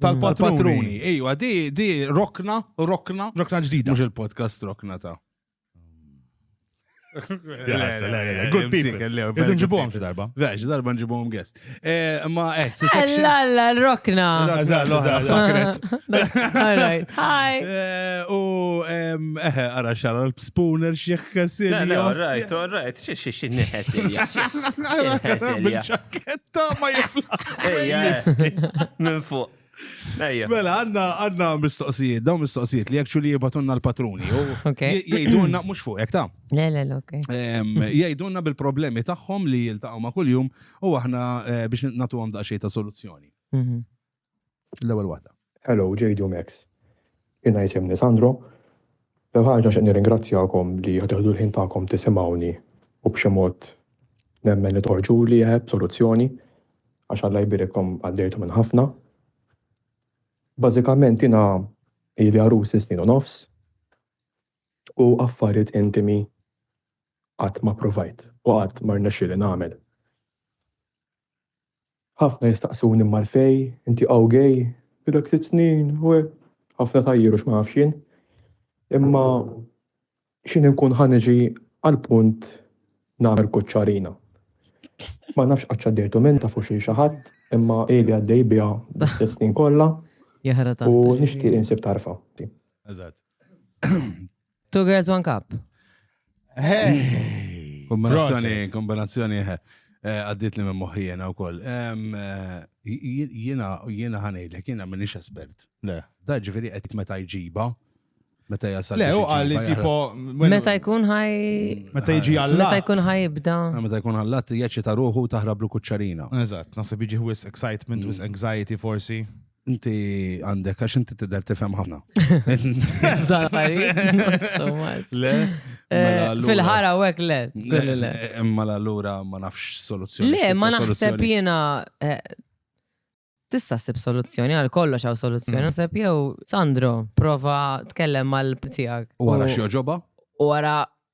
[SPEAKER 2] Tal-patruni. Ejwa, di,
[SPEAKER 1] di, rokna, rokna. Rokna ġdida.
[SPEAKER 2] Mux il-podcast
[SPEAKER 1] rokna ta'
[SPEAKER 2] Good people. Irdu nġibuhom xi darba. Vex, darba nġibuhom
[SPEAKER 1] guest. Eh, ma eh, La la
[SPEAKER 3] rokna. Hi.
[SPEAKER 1] Eh, u eh, ara xara l-spooner xi ħkasir. All right, all right.
[SPEAKER 4] Xi xi xi neħes. Xi ħkasir. Ta' ma
[SPEAKER 1] jifla.
[SPEAKER 4] Minn fuq. Mela, għanna għanna
[SPEAKER 1] mistoqsijiet, dawn mistoqsijiet li actually jibatunna l-patruni.
[SPEAKER 3] Jgħidunna, mux fuq,
[SPEAKER 1] jek ta' Le, le, ok.
[SPEAKER 3] Jgħidunna
[SPEAKER 1] bil-problemi tagħhom li jiltaqgħu ma' kuljum u aħna eh, biex natu għam daqsxejn ta' soluzzjoni. Mhm. L-ewwel waħda. Hello JD u Max.
[SPEAKER 5] Jiena jisimni Sandro. L-ewwel ħaġa nixtieq nirringrazzjakom li qed teħdu l-ħin tagħkom tisimgħuni u b'xi mod nemmen li toħorġuli eh b'soluzzjoni għax Alla jbierikkom għaddejtu minn ħafna. Bażikament jiena ili għarus snin u nofs u affarijiet intimi qatt ma provajt u qatt ma rnexxieli nagħmel. Ħafna jistaqsuni mmar fej, inti hawn gay? Ilek sitt snin u hekk. Ħafna tgħajjir u x'ma nafx jien. Imma x'in inkun ħa niġi għall-punt nagħmel kuċċarina. Ma nafx qatt x'għaddejtu minn tafu xi xi ħadd, imma ili għaddej biha l-istess snin kollha. U nixtieq insib tarfa. Eżatt.
[SPEAKER 3] Two girls, one cup.
[SPEAKER 1] Kombinazzjoni, kombinazzjoni, eh, eh, għaddit li minn moħijena u koll. Jena, jena ħanejlek, jena minix espert. Le. Da ġifiri
[SPEAKER 2] għed meta
[SPEAKER 1] jġiba, meta jasal. Le, u għalli tipo.
[SPEAKER 2] Meta jkun
[SPEAKER 3] ħaj. Meta jġi
[SPEAKER 2] għallat. Meta jkun ħaj ibda.
[SPEAKER 3] Eh, meta jkun għallat,
[SPEAKER 1] jieċi ta' ruħu taħrablu kuċċarina. Eżat, nasib jġi
[SPEAKER 2] wis excitement, wis mm. anxiety forsi. Inti
[SPEAKER 1] għandek, għax inti tidher tifhem ħafna. Le?
[SPEAKER 3] Eh,
[SPEAKER 1] fil-ħara
[SPEAKER 3] u għek le. Imma
[SPEAKER 1] l-allura ma nafx soluzzjoni. Le, ma naħseb
[SPEAKER 3] jena eh, tista' sib soluzzjoni għal kollox għaw soluzzjoni. Mm. Naħseb jew Sandro, prova tkellem mal tiegħek. U għara xi ġoba?
[SPEAKER 1] U għara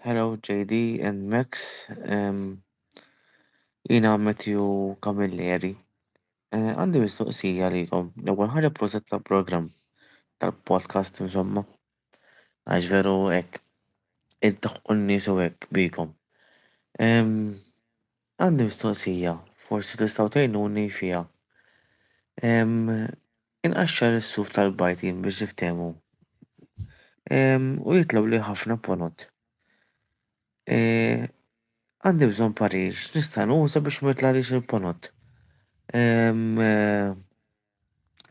[SPEAKER 6] Hello JD and Max. Um, jina Matthew Camilleri. Eh, għandi uh, mistoqsija likom. L-ewwel ħaġa proset ta' program tal-podcast insomma. Għax veru hekk. Id-daħqu n-nies u hekk bikom. Um, Għandi mistoqsija, forsi tistgħu tgħinuni fiha. Ehm, inqaxxar is-suf tal-bajd jien biex niftehmu. Ehm, u jitlgħuli ħafna ponot. E, għandi bżonn parir, x'nista' nuża biex ma jitlgħalix il-ponot? Ehm, e.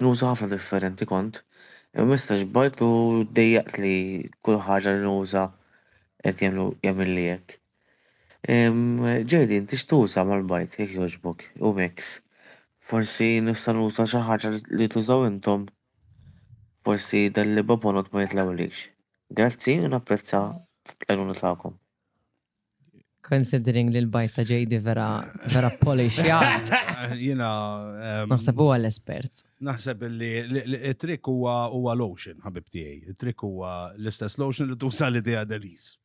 [SPEAKER 6] Nuża ħafna differenti kont imwissa xbajt u ddejjaqt li kull ħaġa li nuża qed jagħmlu jagħmilli hekk. JD inti x'tuża mal-bajt jekk jogħġbok? Hu Mix, Forsi nista' nuża xi ħaġa li tużaw intom? Forsi dan l-ibabonot ma jitlgħulix. Grazzi u napprezza l-għajnuna tagħkom. Considering
[SPEAKER 3] li l-bajt ta' ġejdi vera vera polish jgħat. Jina.
[SPEAKER 1] Naħseb
[SPEAKER 3] huwa l-espert. Naħseb li
[SPEAKER 1] il-trik huwa huwa lotion, ħabib tiegħi. Il-trik huwa l-istess lotion li tuża li tiegħi Denise.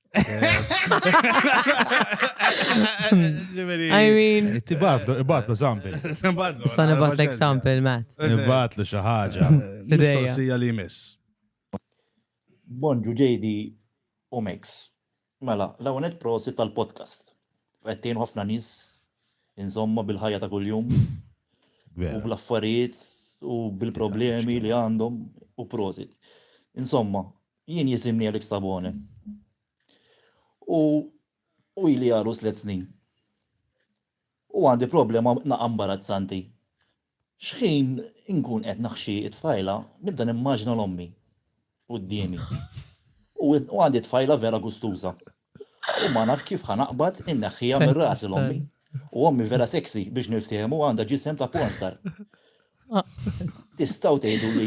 [SPEAKER 3] I mean. Tibatlu, ibatlu
[SPEAKER 2] sample. Sa nibatlek
[SPEAKER 3] sample, Matt. Nibatlu xi
[SPEAKER 2] ħaġa. Mistoqsija li
[SPEAKER 1] jmiss. Bonġu
[SPEAKER 7] ġejdi u Max. Mela, l-ewwel nett prosit tal-podcast. Qed tgħin ħafna nies inżommha bil-ħajja ta' kuljum. U bl-affarijiet u bil-problemi li għandhom u prosit. Insomma, jien jisimni Alex Tabone. U u ili għalu slet snin. U għandi problema naqa' imbarazzanti. X'ħin inkun qed naħxi t-tfajla nibda nimmaġina 'l ommi quddiemi u għandi tfajla vera gustuża u ma naf kif ħa naqbad inneħħiha minn rasi 'l ommi u ommi vera sexy biex niftiehmu għandha ġisem ta' pornstar. Tistgħu tgħiduli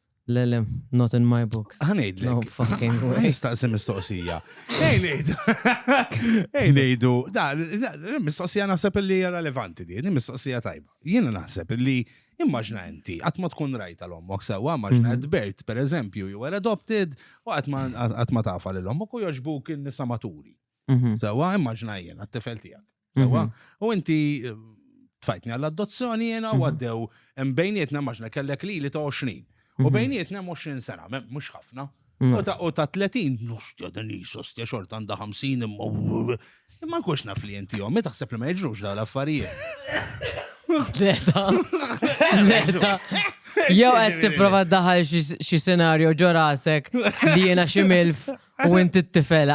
[SPEAKER 2] Le, le,
[SPEAKER 3] not in my books. Għanejdlek. No fucking
[SPEAKER 1] way.
[SPEAKER 3] Nistaqsi mistoqsija.
[SPEAKER 1] Ej, nejdu. Ej, nejdu. Da, mistoqsija naħseb li hija relevanti di, mistoqsija tajba. Jiena naħseb li immaġna inti, għat ma tkun rajta l-ommok sewa, immaġna mhm. bert, per eżempju, you were adopted, u għat ma tafa l-ommok u joġbuk il-nisa maturi. Mhm. Sewa, immaġna jiena, t-tifel tijak. Ewa, u inti eh, tfajtni għall-adozzjoni jena u għaddew hemm bejnietna maġna kellek li li ta' 20. U bejnietna hemm 20 sena, me- mhux ħafna. U ta' u ta' 30, nustja din hi sostja xorta għandha 50 imma imma nkunx naf li inti jom, taħseb li ma jiġrux dawn l-affarijiet. Leta.
[SPEAKER 3] Leta. Jew qed tipprova daħal xi senarju ġo rasek li jiena xi milf U inti t-tifel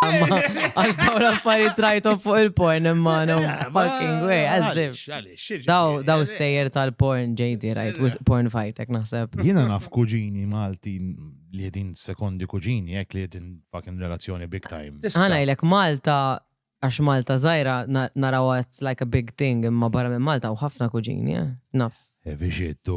[SPEAKER 3] Għax daw l-affarijiet trajtom fuq il-porn imma no fucking way, għazzib. Daw daw stejjer tal-porn ġejdi, rajt, porn fajtek naħseb. Jina naf kuġini
[SPEAKER 2] Malti li jedin sekondi kuġini, jek li jedin fucking relazzjoni big time. Għana jlek Malta
[SPEAKER 3] għax Malta zaħira naraw it's like a big thing imma barra minn Malta u ħafna kuġini, eh? naf. Evi xittu.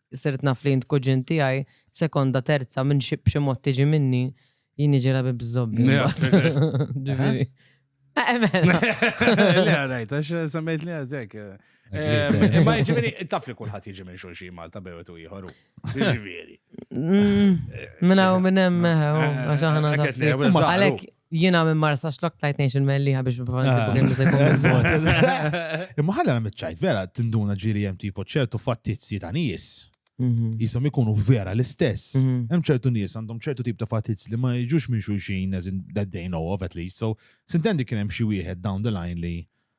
[SPEAKER 3] Sirt naf li int kuġin tiegħi, sekonda, terza, minn xi b'xi mod tiġi minni, jien jiġi rabi bż-żobbi. Ġifieri. Emel.
[SPEAKER 1] Le, rajt, għax semmejt li għadek. Ma ġifieri, taf li kulħadd jiġi minn xulxi Malta bewet u ieħor. Ġifieri.
[SPEAKER 3] Minna u minn hemm, għax aħna. Għalek, Jiena minn Marsa Xlok tajt ngħix il-Mellieħa biex nipprova nsibu kien se jkun biżżejjed. Imma
[SPEAKER 2] ħalla nagħmel ċajt, vera tinduna ġiri hemm tipo ċertu fattizzi ta' nies. Mhm. Jisom ikunu vera l-istess. Mhm. Hemm ċertu nies għandhom ċertu tip ta' fatizz li ma jiġux minn xulxin as in that they know of at least. So, sintendi kien hemm xi wieħed down the line li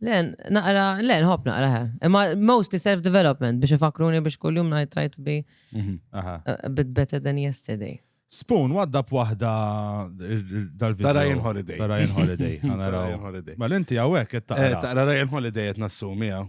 [SPEAKER 1] Le,
[SPEAKER 3] naqra, le, nħobb naqra, he. Imma mostly self-development biex ifakruni biex kull-jum I try to be Mhm, aha. a bit better than yesterday. Spoon, waddab
[SPEAKER 2] waħda dal-video. Ta' Ryan Holiday.
[SPEAKER 1] Ta' Ryan Holiday. Ta'
[SPEAKER 2] Ryan Għanaraw. Holiday. Ma
[SPEAKER 1] l-inti għawek, Eh, it-taqra.
[SPEAKER 2] Taqra Ryan
[SPEAKER 1] Holiday qed nassumi hawn.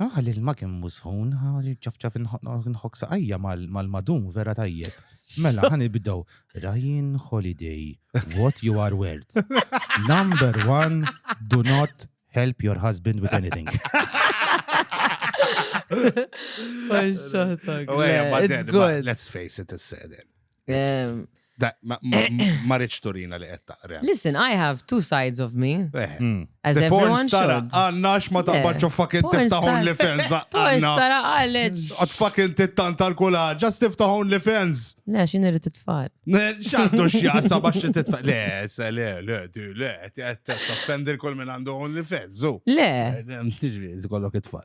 [SPEAKER 2] Ah, l-ilma kemm musħun, ċafċaf nħok saqajja mal-madum vera tajjeb. Mela, ħan ibdow. Ryan Holiday, what you are worth. Number one, do not help your husband with anything.
[SPEAKER 3] It's good. Let's face it, it's said.
[SPEAKER 1] Ehm, Da, ma, ma, ma rridx turina li qed taqra. Listen, I have two
[SPEAKER 3] sides of me, Eh. Hmm. as The porn everyone star should.
[SPEAKER 1] għanna x'ma
[SPEAKER 3] taqbadx u
[SPEAKER 1] fucking Porn tiftaħ star. OnlyFans Porn għanna. star
[SPEAKER 3] għalet. Għad fucking
[SPEAKER 1] tittanta l-kula, ġast tiftaħ OnlyFans. Le, xin irrit it-tfal.
[SPEAKER 3] ċandu
[SPEAKER 1] xjasa bax xi titfa. Le, se le, le, du, le, qed toffendi l-kol minn għandu OnlyFans, zu. Le,
[SPEAKER 3] Tiġri,
[SPEAKER 1] kollok it-tfal.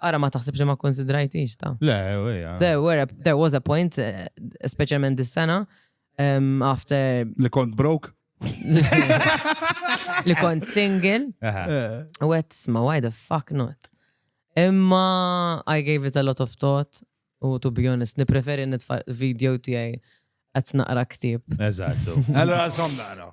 [SPEAKER 3] Ara ma taħsibx li ma konsidrajtix ta'. Le, eja. There, were,
[SPEAKER 2] there was a
[SPEAKER 3] point, eh, specialment this sena, um, after Li kont broke? li kont single, Aha. Eh, u għet sma, why the fuck not? Imma I gave it a lot of thought, u to be honest, nipreferi nitfa video tijaj għet naqra ktib. Eżattu. Allora,
[SPEAKER 2] som naqra.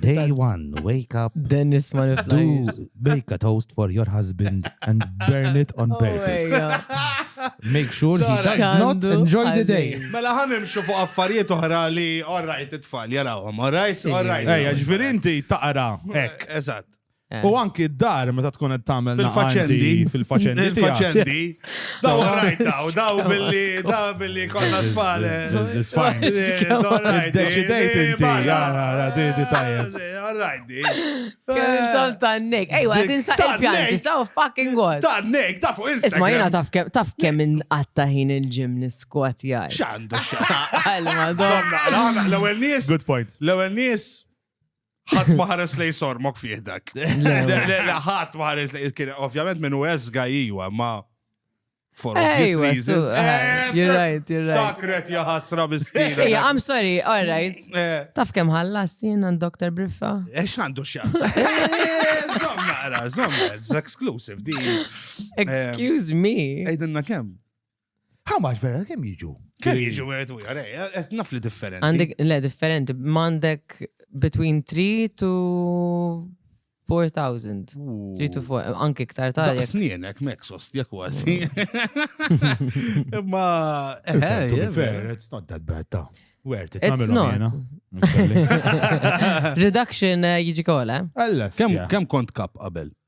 [SPEAKER 2] Day one, wake up. Dennis ma Do
[SPEAKER 3] make
[SPEAKER 2] a toast for your husband and burn it on oh purpose. Make sure he does not enjoy the day. Mela ħan imxu fuq
[SPEAKER 1] affarijiet oħra li all right it-tfal jarawhom, all right, all right. Ejja, ġviri
[SPEAKER 2] inti taqra. Ek. Eżatt. Eh. U
[SPEAKER 1] anki
[SPEAKER 2] d-dar meta tkun qed tagħmel fil-faċendi, fil-faċendi. Fil-faċendi.
[SPEAKER 1] Daw rajt daw, daw billi, daw billi konna tfal. It's
[SPEAKER 2] fine. Deċidejt inti, di di tajjeb. Alright, di.
[SPEAKER 1] Tom
[SPEAKER 3] tannek. Ejwa, tinsa il-pjanti, so fucking god. Tannek, taf fuq Instagram.
[SPEAKER 1] Isma jena taf kem, taf kem
[SPEAKER 3] in għatta ħin il-ġim niskwat jgħaj. Xandu
[SPEAKER 1] xandu. Għalma,
[SPEAKER 3] Good point.
[SPEAKER 1] L-ewel nis, ħadd ma ħares lej sormok fih dak. Ħadd ma ħares lej kien ovvjament minn u esga iwa ma for obvious reasons. Eh, eh, you're right,
[SPEAKER 3] you're right. Stakret ja
[SPEAKER 1] ħasra miskina. Yeah, I'm sorry,
[SPEAKER 3] all right. Eh. Taf kem ħallas jien għand Dr. Briffa? Ex għandu xans.
[SPEAKER 1] Zom naqra, zom, it's exclusive di.
[SPEAKER 3] Excuse me. Ejdenna kem?
[SPEAKER 1] How much
[SPEAKER 2] vera, kem jiġu? Kem jiġu merit u
[SPEAKER 1] jgħare, għet naf li differenti. Għandek, le, differenti,
[SPEAKER 3] mandek between 3 to 4,000. 3 to 4, anki ktar ta' jek. Snienek, meksos,
[SPEAKER 1] jek wazi. Ma, eħe, eh, fair,
[SPEAKER 2] it's not that bad ta' where it It's not.
[SPEAKER 3] Reduction eh, jiġi kola. Kem
[SPEAKER 1] kont kap qabel?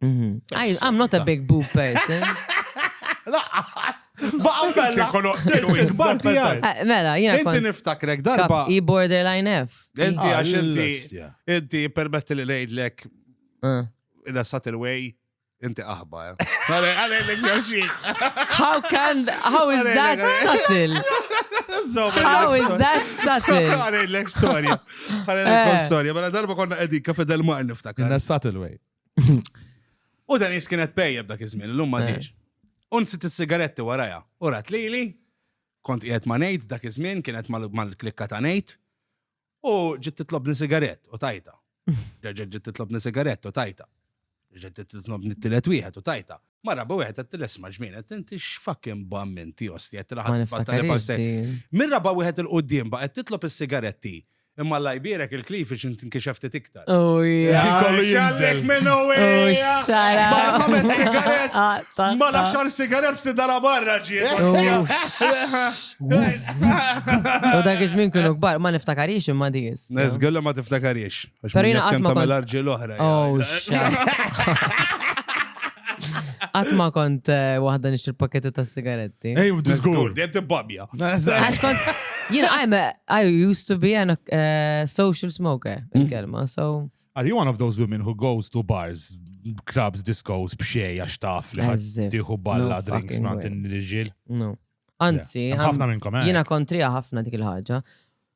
[SPEAKER 1] I'm
[SPEAKER 3] not a big boob person. Laqqas! Baqa bella! Eh, mela, jina. Inti niftakrek darba.
[SPEAKER 1] I borderline F.
[SPEAKER 3] Inti ah, għax inti.
[SPEAKER 1] Inti permetti li nejdlek. Eh. Ina sat il-way. Inti aħba, eh.
[SPEAKER 3] How can, how is that subtle? How is that subtle? Għalek storja.
[SPEAKER 1] Għalek storja. Mela darba konna edika fedel ma' niftakar. Ina subtle way. U dan jis kienet pejja b'dak iż-żmien, l-lum ma diġ. Unsit is-sigaretti waraja, u rat lili, kont qiegħed ma' Nate dak iż-żmien, kienet mal-klikka ta' Nate, u ġiet titlobni sigarett u tajta. Reġgħet ġiet titlobni sigarett u tajta. Reġgħet ġiet titlobni t-tielet wieħed u tajta. Mara rabu wieħed qed tilesma' ġmien qed inti x'fucking bamminti osti qed tilaħaq fatta li
[SPEAKER 3] Mir raba wieħed
[SPEAKER 1] il-qudiem ba qed titlob is-sigaretti. Imma Alla jbierek il-cleavage int inkixef ftit iktar. Oh, Kollu
[SPEAKER 3] jinżel. minn
[SPEAKER 1] oh, xara. Ma nagħmel
[SPEAKER 3] sigaret.
[SPEAKER 1] Ah, ma nafx għal sigaret b'si dara barra ġiet.
[SPEAKER 3] Oh, u dak iż-żmien kienu kbar, ma niftakarix imma dis. Nezgħalla ma tiftakarix.
[SPEAKER 1] Però jiena qatt ma tagħmel
[SPEAKER 3] arġi l-oħra. Oh,
[SPEAKER 1] xara.
[SPEAKER 3] Qatt ma kont eh, waħda nixtri pakketti tas-sigaretti. Ej, u disgur. Dejjem
[SPEAKER 2] tibbabja.
[SPEAKER 1] Għax kont,
[SPEAKER 3] jien, I'm a, I used to be an, uh, social smoker, mm. il-kelma, so. Are you one of those women
[SPEAKER 2] who goes to bars, clubs, discos, bxej, għax taf li ħaddiħu balla
[SPEAKER 3] drinks
[SPEAKER 2] mant
[SPEAKER 3] il-ġil?
[SPEAKER 2] No.
[SPEAKER 3] Anzi, ħafna minnkom, eh?
[SPEAKER 2] Jina kontrija ħafna dik
[SPEAKER 3] il-ħagġa.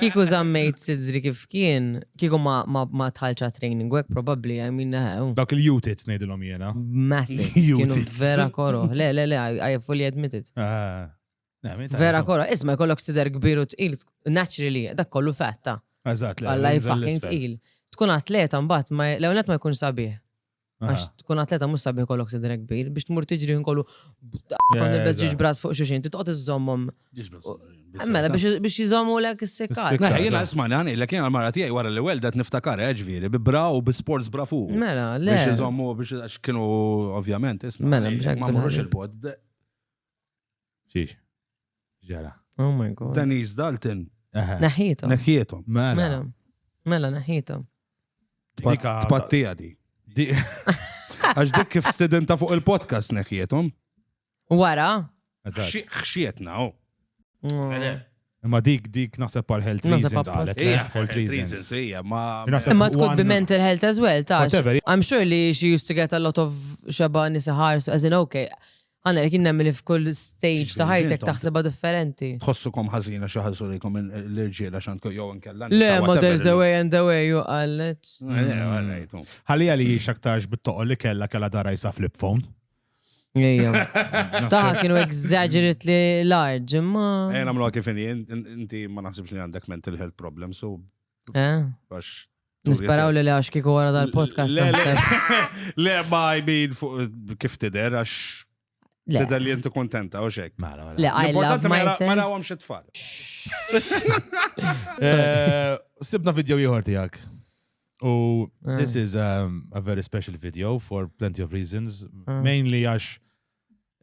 [SPEAKER 3] Kiku zammejt sidri kif kien, kiku ma tħalċa training għek probabli, I mean, eh, oh. Dak il-jutits
[SPEAKER 2] nejdilom jena. Massive.
[SPEAKER 3] Kienu vera koro.
[SPEAKER 1] Le, le,
[SPEAKER 3] le, I fully admit it. Ah. Vera koro. Isma, kollok sider kbir u tqil, naturally, dak kollu fetta. Eżat, le. Għalla
[SPEAKER 2] fucking tqil.
[SPEAKER 3] Tkun atleta mbatt, ma l-għonet ma jkun sabiħ. Għax tkun atleta mhux sabiħ kollok sidra kbir biex tmur tiġri nkollu kon il ġiġ bras fuq xuxin, titqgħod iżommhom. Mela biex jizommu lek is-sikkar. Mela jiena isma' li għanilek
[SPEAKER 1] jiena l-mara tiegħi wara li weldet niftakar eh, ġifieri bi bra u bi sports bra fuq. Mela, le. Biex iżommu
[SPEAKER 3] biex
[SPEAKER 1] kienu ovvjament isma'. Mela, ma mhux
[SPEAKER 3] il-bod.
[SPEAKER 2] Xiex. Ġara. Oh my god.
[SPEAKER 3] Denise Dalton.
[SPEAKER 1] Naħietom.
[SPEAKER 3] Naħietom. Mela.
[SPEAKER 1] Mela,
[SPEAKER 3] mela naħietom.
[SPEAKER 1] Tpattija di. Għax dik kif studenta fuq il-podcast neħietom. Wara. Xxietna, oh.
[SPEAKER 2] Imma dik dik naħseb għal health Naħseb reasons apposta. qalet. Hija
[SPEAKER 3] for health reasons.
[SPEAKER 2] hija, ma. Naħseb Imma
[SPEAKER 3] tkun one- bi mental health as well, ta' Whatever. I'm sure li
[SPEAKER 2] she
[SPEAKER 3] used to get a lot of xeba nisa ħarsu, as in okay. Għana li kien nemmen li f'kull stage ta' ħajtek Intom- taħseba differenti. Tħossukom ħażina
[SPEAKER 1] xi ħażu lejkom il- l-irġiela x'għandkom jew inkella. Le, nisa, ma whatever. there's a way
[SPEAKER 3] and a way, ju għallet. Eh, all right, oh.
[SPEAKER 2] Ħalija li jiex aktarx bit-toqol li kella kella dara jisa flip phone.
[SPEAKER 3] Taħ kienu exaggerate li large, imma. Ejja namlu kif
[SPEAKER 1] inti ma naħsibx li għandek mental health problem, so. Eh? Nisperaw
[SPEAKER 3] li li għax kiku għara dal-podcast. Le, ma
[SPEAKER 1] jmin kif tider għax. Tider li jentu kontenta u xek. Mela, mela. Le, I love
[SPEAKER 3] myself. Ma rawam xie tfal.
[SPEAKER 1] Eh,
[SPEAKER 2] sibna video jħor tijak. U eh. this is a, um, a very special video for plenty of reasons, eh. mainly għax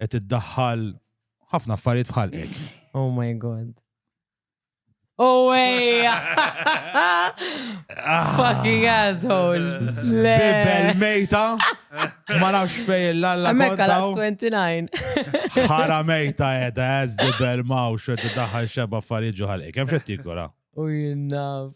[SPEAKER 2] qed iddaħħal ħafna affarijiet fħal ek. Oh my god.
[SPEAKER 3] Oh way! Fucking assholes. Zibel
[SPEAKER 2] mejta. Ma nafx fej l-alla. Mekka la 29.
[SPEAKER 3] Ħara
[SPEAKER 2] mejta edha, eh, zibel mawx, edha daħal xeba affarijiet ġuħal ek. Kem xettikura? U jinnaf.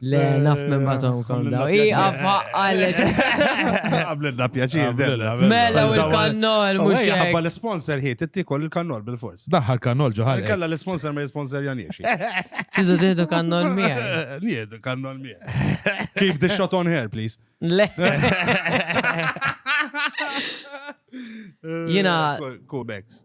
[SPEAKER 3] Le, eh, naf minn batom kom daw. Ija faqqalet.
[SPEAKER 2] Għamlilna pjaċir, della. Mela u
[SPEAKER 3] l-kannol, mux. Għabba l-sponsor
[SPEAKER 1] hi, tittikol il-kannol bil-fors. Daħħal kannol ġoħal.
[SPEAKER 2] Kalla l-sponsor ma
[SPEAKER 1] l-sponsor janjiex. Tidu tidu
[SPEAKER 3] kannol mija. Niedu kannol
[SPEAKER 1] mija. Keep the shot on here, please. Le.
[SPEAKER 3] Jina. Kubex.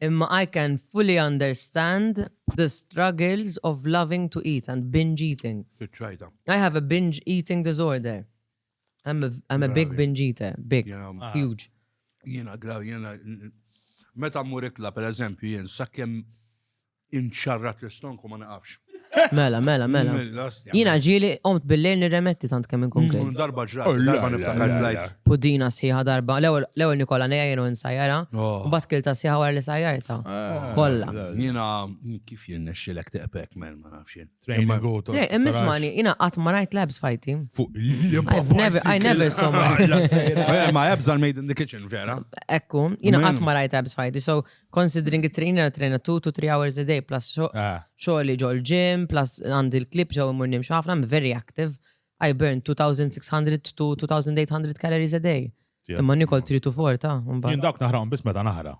[SPEAKER 3] Imma I can fully understand the struggles of loving to eat and binge eating. Spiċċajta. I have a binge eating disorder. I'm a, I'm a big Bravi. binge eater, big, Jena- Ah. huge. Jiena graw, jiena.
[SPEAKER 1] Meta mmur ikla, per eżempju, jien, sakkem Inċarrat l-istonku ma naqafx. Mela, mela,
[SPEAKER 3] mela. Jina ġili omt bil-lejl nirremetti tant kemm inkun kif. Darba ġrat, oh, darba
[SPEAKER 1] niftakar tlajt. Pudina sħiħa darba,
[SPEAKER 3] l-ewel Nikola neja jenu nsajjara, oh. u bat kilta sħiħa għar li sajjarta. Ah, Kolla. Jina,
[SPEAKER 1] kif jien nexxilek teqbek, men, ma nafxin. Training go to. Immismani,
[SPEAKER 3] jina għat ma rajt labs fajti. I never saw my. Ma
[SPEAKER 1] jabżal made in the kitchen, vera. Ekku, jina għat
[SPEAKER 3] ma rajt labs fajti, so Considering it train and train two to three hours a day plus xogħli ah. ġol gym plus għandi l-klip ġew imur nimx ħafna I'm very active. I burn 2600 to 2800 calories a day. Imma nikol 3 to 4 ta' mbagħad. Jien dawk naħrawhom biss
[SPEAKER 2] meta naħra.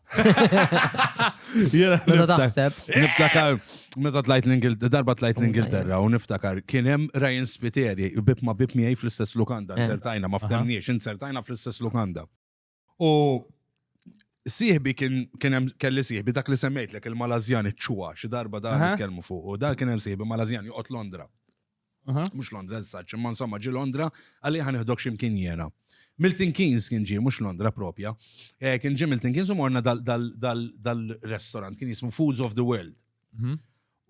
[SPEAKER 3] Meta taħseb. Niftakar
[SPEAKER 1] meta tlajt l-Ingilterra, darba tlajt l-Ingilterra u niftakar kien hemm Ryan Spiteri bib ma bib miegħi fl-istess lukanda, eh. insertajna ma ftemniex, insertajna fl-istess lukanda. U Sieħbi kien hemm kelli sieħbi dak li semmejt lek il-Malazjan iċ-ċuwa xi darba dan nitkellmu fuq u dan kien hemm sieħbi Malazjan joqgħod Londra. Mhux Londra żsaċ, imma insomma ġi Londra għalli ħan iħdok x'imkien jiena. Milton Keynes kien ġie mhux Londra propja. Eh, kien ġie Milton Keynes u morna dal-restaurant kien jismu Foods of the World. Mhm.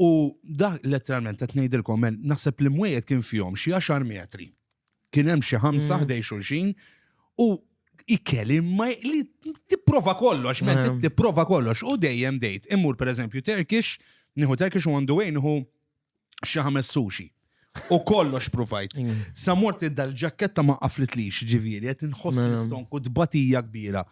[SPEAKER 1] U dak letteralment qed ngħidilkom men naħseb li mwejjed kien fihom xi għaxar metri. Kien hemm xi ħamsa mm. ħdej xulxin u ikeli ma li tipprova kollox, men mm. tipprova kollox u dejjem dejt. Immur pereżempju Turkish, nieħu Turkish u għandu wejn nieħu xi ħames sushi. U kollox provajt. Mm. Sa mort id-dal-ġakketta ma qaflitlix ġivieri, qed inħoss l-istonku tbatija kbira.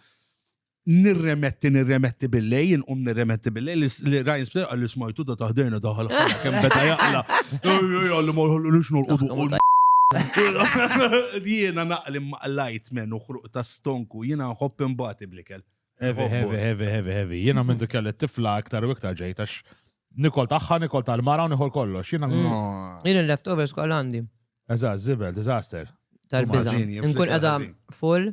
[SPEAKER 1] nirremetti, nirremetti billej, inqum nirremetti billej, li Ryan Spitzer għalli smajtu da taħdejna daħal kem beda jaqla. Għalli ma jħallu nix norqodu. Jiena naqli maqlajt men uħruq ta' stonku, jiena nħobb imbati blikel. Heavy, heavy, heavy,
[SPEAKER 2] heavy, heavy. Jiena minn dik kelli tifla aktar u iktar ġejtax. Nikol taħħa, nikol tal-mara u nikol kollox. Jiena. Jien il-leftovers
[SPEAKER 3] kol għandi. Eżatt, zibel,
[SPEAKER 2] disaster. Tal-biza.
[SPEAKER 3] Nkun edha full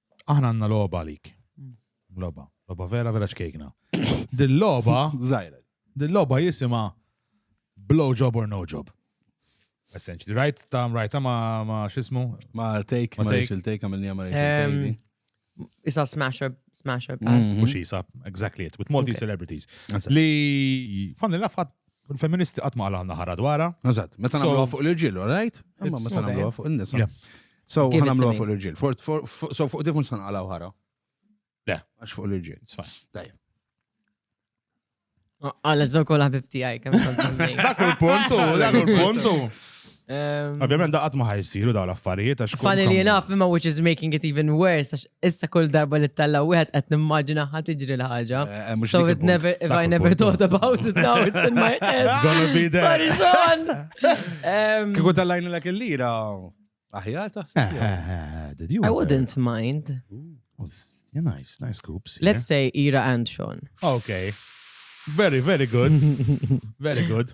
[SPEAKER 2] Aħna għandna logħba għalik. Mm. Logħba, logħba vera vera ċkejkna. Din logħba żgħira. Din logħba jisimha blow job or no job. Essentially, right ta' right ma ma xismu? Ma take, ma take,
[SPEAKER 1] il take għamilni ma take. Isa
[SPEAKER 3] smash up, smash up. Mm-hmm. Mux isa,
[SPEAKER 2] exactly it, with multi celebrities. Li, fan l-lafat U l-femministi qatt ma għalgħanna ħara dwarha. Eżatt, meta nagħmluha fuq
[SPEAKER 1] l-irġiel, all right? Imma meta nagħmluha fuq in-nisa. So, Give it to nagħmluha me. fuq l-irġiel. For- for- for- So, fuq dik mhux sanqalgħu ħara. Le.
[SPEAKER 2] Għax fuq l-irġiel.
[SPEAKER 1] It's fine. Tajjeb.
[SPEAKER 3] Għalla ġdaw kol ħabib tijaj, kem Dak il-puntu,
[SPEAKER 2] dak il-puntu. Ehm, Ovvjament da qatt ma ħajsiru daw l-affarijiet għax. Funny li jenaf imma
[SPEAKER 3] which is making it even worse għax issa kull darba li talla wieħed qed nimmaġina ħa tiġri l-ħaġa. Eh, eh, so it never if I never thought about it now it's in my head. It's gonna be there. Sorry
[SPEAKER 2] Sean.
[SPEAKER 3] Ehm, Kieku tallajni l
[SPEAKER 1] il-lira aħjar taħseb.
[SPEAKER 3] Eh, I wouldn't mind.
[SPEAKER 2] Yeah, nice, nice scoops. Let's say Ira
[SPEAKER 3] and Sean. Okay.
[SPEAKER 2] Very, very good. very good.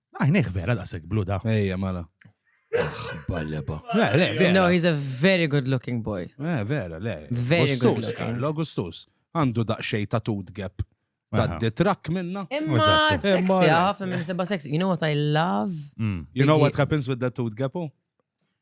[SPEAKER 1] Għajnek ah,
[SPEAKER 2] vera daqsek blu da. Ejja, mala. Balleba. No,
[SPEAKER 3] he's a very good looking boy. Eh, vera, le.
[SPEAKER 1] Very good looking.
[SPEAKER 3] Karl Augustus. Għandu
[SPEAKER 1] daqxej ta' tut gap. Ta' detrak minna. Imma sexy,
[SPEAKER 3] għaf, minn seba sexy. You know what I love? Mm. You know what
[SPEAKER 1] happens with that tut gap? Oh?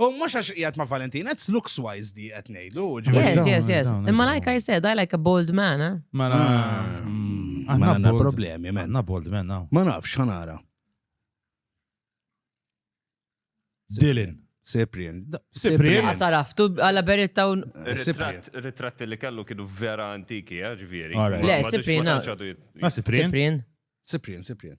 [SPEAKER 1] U mux għax jgħat ma' Valentin, it's looks wise di għet nejdu. Yes, yes, yes.
[SPEAKER 3] Imma like I said, I like a bold man, eh? Ma na.
[SPEAKER 1] Għanna mm. problemi, man. Għanna bold man, now. Ma nafx,
[SPEAKER 2] għanara. Dylan. Cyprian.
[SPEAKER 1] Cyprian. Għasaraftu
[SPEAKER 3] għalla beritta un. Ritratti
[SPEAKER 4] li kellu kienu vera antiki, eh, ġviri. Le, Cyprian.
[SPEAKER 3] Cyprian.
[SPEAKER 1] Cyprian, Cyprian.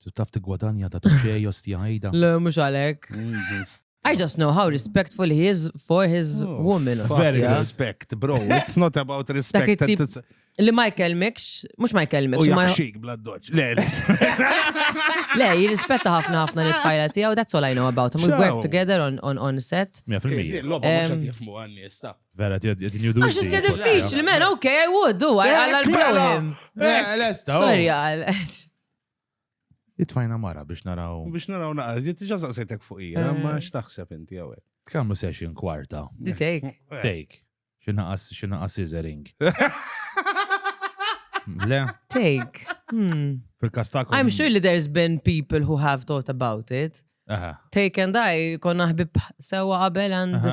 [SPEAKER 3] Tu taf
[SPEAKER 2] tigwadanja ta' tuxej
[SPEAKER 3] osti
[SPEAKER 2] ħajda. Le, mux għalek.
[SPEAKER 3] I just know how respectful he is for his oh, woman. Very respect,
[SPEAKER 2] bro.
[SPEAKER 3] It's
[SPEAKER 1] not about respect. Li ma
[SPEAKER 3] jkelmikx, mux ma jkelmikx. U jaxxik
[SPEAKER 1] bla
[SPEAKER 3] doċ. Le, le, jirrispetta ħafna ħafna li tfajla tijaw, that's all I know about him. We work together on, on, on set. 100%. Loba mux
[SPEAKER 2] għatjifmu
[SPEAKER 1] għanni, stop. Vera, ti għedin judu.
[SPEAKER 2] Għax jisja diffiċli,
[SPEAKER 3] man, ok, I would do, I like him. Lesta. Oh. Sorry,
[SPEAKER 2] għal.
[SPEAKER 3] Jitfajna
[SPEAKER 2] mara biex naraw. Biex naraw naqra, jitġa
[SPEAKER 1] saqsetek fuq ija, eh. ma xtaħseb inti għawek. Kamlu session
[SPEAKER 2] kwarta. Di take. Eh.
[SPEAKER 3] Take.
[SPEAKER 2] Xinaqas, xinaqas scissoring. Le? Take.
[SPEAKER 3] Hmm. Fil-kastak.
[SPEAKER 2] I'm sure that there's
[SPEAKER 3] been people who have thought about it. Take and
[SPEAKER 2] I,
[SPEAKER 3] konna ħbib sewa qabel and.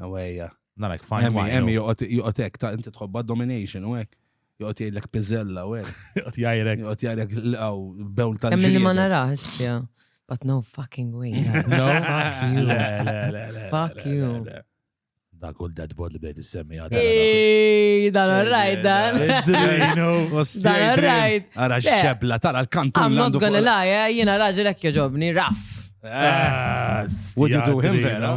[SPEAKER 3] Awejja.
[SPEAKER 1] Narek fajn. Emmi,
[SPEAKER 2] emmi, joqot
[SPEAKER 1] ek,
[SPEAKER 2] ta' inti
[SPEAKER 1] tħobba domination u ek. Joqot jgħidlek pizzella u ek. Joqot jgħajrek. Joqot
[SPEAKER 2] jgħajrek l-għaw,
[SPEAKER 1] bewl tal-ġiri. Emmi li ma narax,
[SPEAKER 3] ja. But no fucking way. No, fuck
[SPEAKER 2] you.
[SPEAKER 3] Fuck you. Dak
[SPEAKER 2] u dead body bdejt issemmi għadha. Ej, dan
[SPEAKER 3] rajt dan. Dan rajt. Ara xebla,
[SPEAKER 1] tara l-kantu. I'm not gonna lie, eh,
[SPEAKER 3] jina raġel ekki ġobni, raff. Eh,
[SPEAKER 1] Would you do him vera?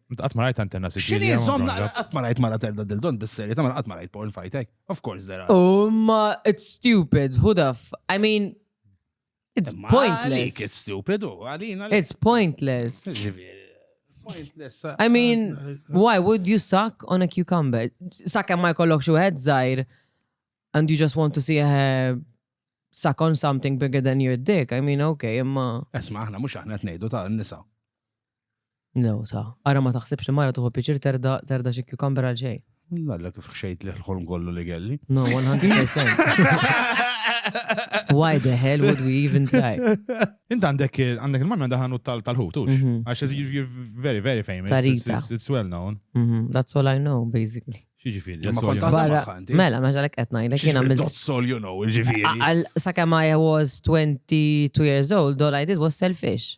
[SPEAKER 3] Qatt
[SPEAKER 1] ma rajt antenna
[SPEAKER 2] Sicilia. Xini zom qatt
[SPEAKER 1] ma rajt
[SPEAKER 2] mara
[SPEAKER 1] telda dildon bis-serje ta' qatt ma rajt porn fajtek. Of course there are. Oh ma it's
[SPEAKER 3] stupid. Who the f I mean it's pointless.
[SPEAKER 1] It's stupid.
[SPEAKER 3] Oh,
[SPEAKER 1] it's
[SPEAKER 3] pointless.
[SPEAKER 1] Pointless. I mean,
[SPEAKER 3] why would you suck on a cucumber? Sakka ma jkollok xi wieħed żgħir and you just want to see her suck on something bigger than your dick. I mean,
[SPEAKER 1] okay,
[SPEAKER 3] imma. Esma,
[SPEAKER 1] aħna mhux
[SPEAKER 3] aħna
[SPEAKER 1] qed ngħidu
[SPEAKER 3] ta'
[SPEAKER 1] nisa.
[SPEAKER 3] Lew ta. Ara ma taħsibx li mara tuħu piċir terda terda xi cucumber għal xejn. Nalla kif xejt
[SPEAKER 1] li l-ħolm kollu li kelli. No, 100%.
[SPEAKER 3] Why the hell would we even try? Int għandek
[SPEAKER 2] għandek il-mamma daħanu tal-ħut, tux. Mhm. Għax you're very, very famous. Tarita. It's, it's well known. Mhm, that's all I know,
[SPEAKER 3] basically. Xieġifiri, Ma kont għadha
[SPEAKER 2] Barra, magħha inti.
[SPEAKER 1] mela, ma
[SPEAKER 3] ġalek
[SPEAKER 1] etnaj,
[SPEAKER 3] l kiena mil. That's all you know,
[SPEAKER 1] ġifiri. Għal sakemm I
[SPEAKER 3] was 22 years old, all I did was selfish.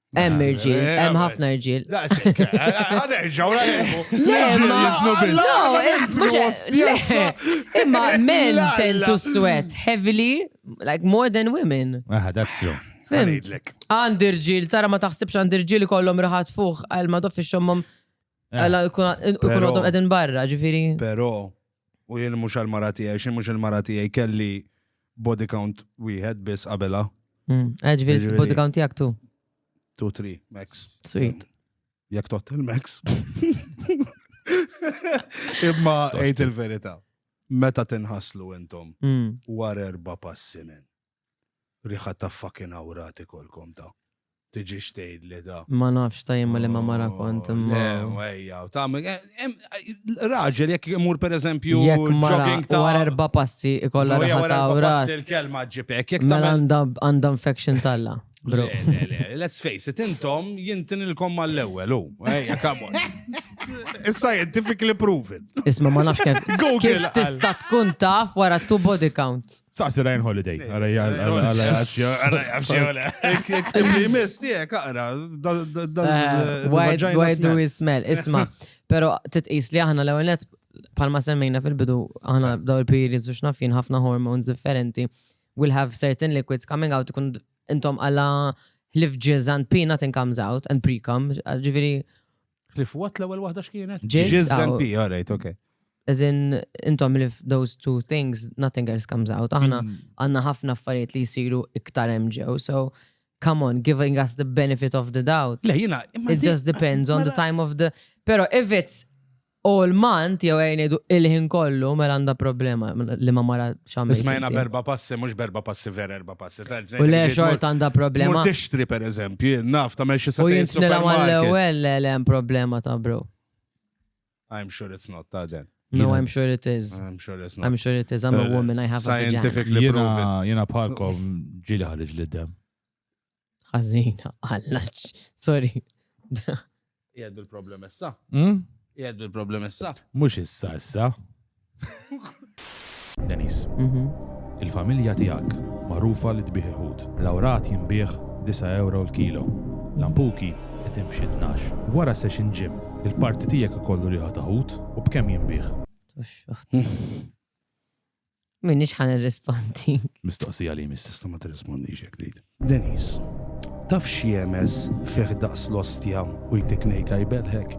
[SPEAKER 3] Hemm irġiel, eh, hemm ħafna irġiel. Għanerġaw, Imma men tend to sweat heavily, like more than women. Ah, that's true.
[SPEAKER 2] Għandi
[SPEAKER 3] irġiel, tara ma taħsibx għandi irġiel kollom raħat fuq għal ma doffi xommom eh. għal ikun għadhom edin barra, ġifiri. Pero,
[SPEAKER 1] U jien mhux għal mara tiegħi, xi mhux il-mara tiegħi kelli body count wieħed biss qabela. Mm. Eh, Ġviri, Ġifieri-
[SPEAKER 3] body count tiegħek tu. 2 3
[SPEAKER 1] max. Sweet.
[SPEAKER 3] Jekk tot
[SPEAKER 1] il-max. Imma għid il-verità. Meta tinħaslu intom Mm. war erba' passi minn. Riħa ta' fucking awrat ikollkom ta'. Tiġix tgħidli ta'. Ma nafx ta' jien ma'
[SPEAKER 3] liema mara kont imma. Le, ejja, tagħmel.
[SPEAKER 1] Raġel jekk imur pereżempju jogging ta'. Wara
[SPEAKER 3] erba' passi ikollha riħa ta' awrat. Passi l-kelma ġġib hekk
[SPEAKER 1] jekk tagħmel. Mela
[SPEAKER 3] għandha infection t'Alla. Bro. Let's face
[SPEAKER 1] it, intom jintin il-kom mal-ewel, u. Ejja, come on. It's scientifically proven. Isma ma nafx kif.
[SPEAKER 3] Google. Tista tkun taf wara two body counts. Saqsi Ryan Holiday.
[SPEAKER 2] Il-miss tiegħek
[SPEAKER 3] aqra. Why do we smell? Isma, pero titqis li aħna l-ewwel palma semmejna fil-bidu aħna daw il-periods u xnafin ħafna hormones differenti We'll have certain liquids coming out ikun intom għala ħlif jizz and pee nothing comes out and pre come, ġifiri. Ħlif what
[SPEAKER 1] l-ewwel waħda x'kienet? Jizz and pee, all
[SPEAKER 3] right, okay.
[SPEAKER 1] As in,
[SPEAKER 3] intom li those two things, nothing else comes out. Aħna mm. għanna ħafna affarijiet li jisiru iktar MGO, so come on, giving us the benefit of the doubt. Le, jina, it just depends on the time of the. Pero if it's All month jew ejn ngħidu il-ħin kollu mela għandha problema li ma mara x'għamel. Isma' jiena b'erba' passi
[SPEAKER 1] mhux b'erba' passi vera erba' passi. U le xort
[SPEAKER 3] għandha problema. Mur tixtri pereżempju,
[SPEAKER 1] naf tagħmel xi sa. U jien nilha mal-ewwel
[SPEAKER 3] le le hemm problema ta' bro.
[SPEAKER 1] I'm sure it's not ta' den. No, I'm sure it is.
[SPEAKER 3] I'm sure it's not. I'm sure
[SPEAKER 1] it is. I'm a woman,
[SPEAKER 3] I have a vagina. Scientifically proven.
[SPEAKER 1] Jena bħalkom
[SPEAKER 2] ġili ħarġ li dem. Ħażina,
[SPEAKER 3] alla, sorry.
[SPEAKER 1] Jgħed bil-problem issa. Hmm? Jgħed bil-problem issa. Mhux issa issa.
[SPEAKER 2] Denis, mhm. il-familja tiegħek magħrufa li tbih il-ħut. Lawrat jinbih 9 euro l-kilo. Lampuki qed imxi 12. Wara session gym, il-parti tiegħek ikollu riħa ta' ħut u b'kemm jinbih?
[SPEAKER 3] Minix ħan irrispondi. Mistoqsija li mis.
[SPEAKER 2] Tista' ma tirrispondix jekk
[SPEAKER 1] tgħid. Denis, taf x'jemes fih daqs l-ostja u jtik nejka jbelħek?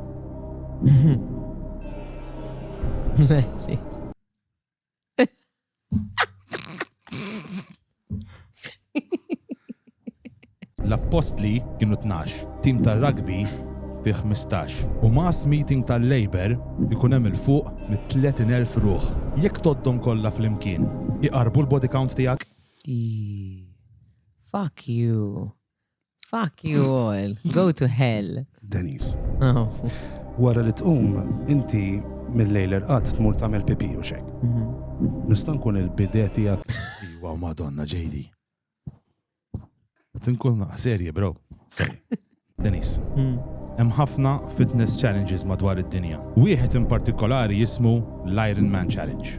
[SPEAKER 2] L-appostli kienu tnax, tim tar-rugby fih ħmistax, u mass meeting tal-Labour ikun hemm 'il fuq mit-30,000 ruħ. Jekk tgħoddhom kollha flimkien, iqarrbu l-body count tiegħek?
[SPEAKER 3] Fuck you. Fuck you all. Go to hell. Denise. Oh. Wara li
[SPEAKER 1] tqum, inti mill-lejl irqat tmur tagħmel pipi u xek. Mhm. Nista' nkun il-bidè tiegħek. Iwa madonna
[SPEAKER 2] ġejdi. Tinkun naqqa serje, bro. Denise. Hmm. Hemm ħafna fitness challenges madwar id-dinja. Wieħed in partikolari jismu l-Iron Man Challenge.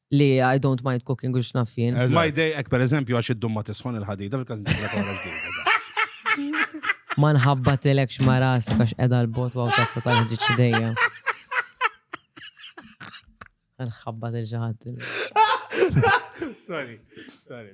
[SPEAKER 3] li I don't mind cooking u x'naf jien. Ma jdejqek per
[SPEAKER 1] eżempju għax id-dum ma tisħon il-ħadida fil-każ Ma nħabba
[SPEAKER 3] tilek x'ma rasek għax qiegħda l-bot waw tazza tal-ħġiġ idejja. Nħabba til ġaħat.
[SPEAKER 1] Sorry, sorry,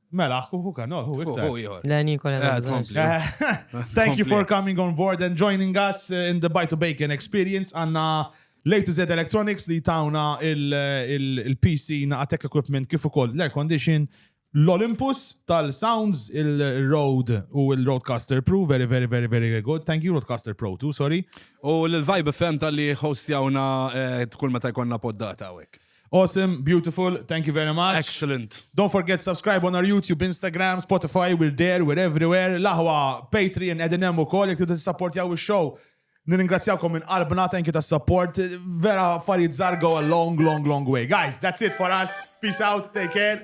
[SPEAKER 2] Mela, hu kan, oh, hu iktar. Hu ieħor. Le, Nikola. Eh, Nikola. tkompli.
[SPEAKER 3] Eh,
[SPEAKER 2] Thank you for coming on board and joining us uh, in the Buy to Bacon experience. Għanna Late to Z Electronics li tawna il- il- il-PC na tech equipment kif ukoll l-air condition l-Olympus tal-Sounds il-Road u il-Roadcaster Pro very very very very good. Thank you Roadcaster Pro too, sorry. U l-Vibe
[SPEAKER 1] FM tal-li hostjawna eh, kull meta jkollna poddata għawek. Awesome, beautiful,
[SPEAKER 2] thank you very much. Excellent. Don't forget
[SPEAKER 1] subscribe
[SPEAKER 2] on our YouTube, Instagram, Spotify, we're there, we're everywhere. L-aħwa Patreon edin hemm ukoll jekk tidu tissappортjaw ix-show. Nirringrazzjawkom minn qalbna, thank you tas-support. Vera affarijiet żargo a long, long, long way. Guys, that's it for us. Peace out, take care.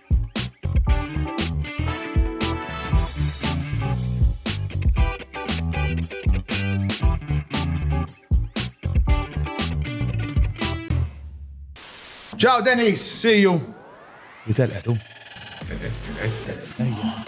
[SPEAKER 2] Ciao Denis, see you. Jitel etu. Telqet, telqet. Ejja.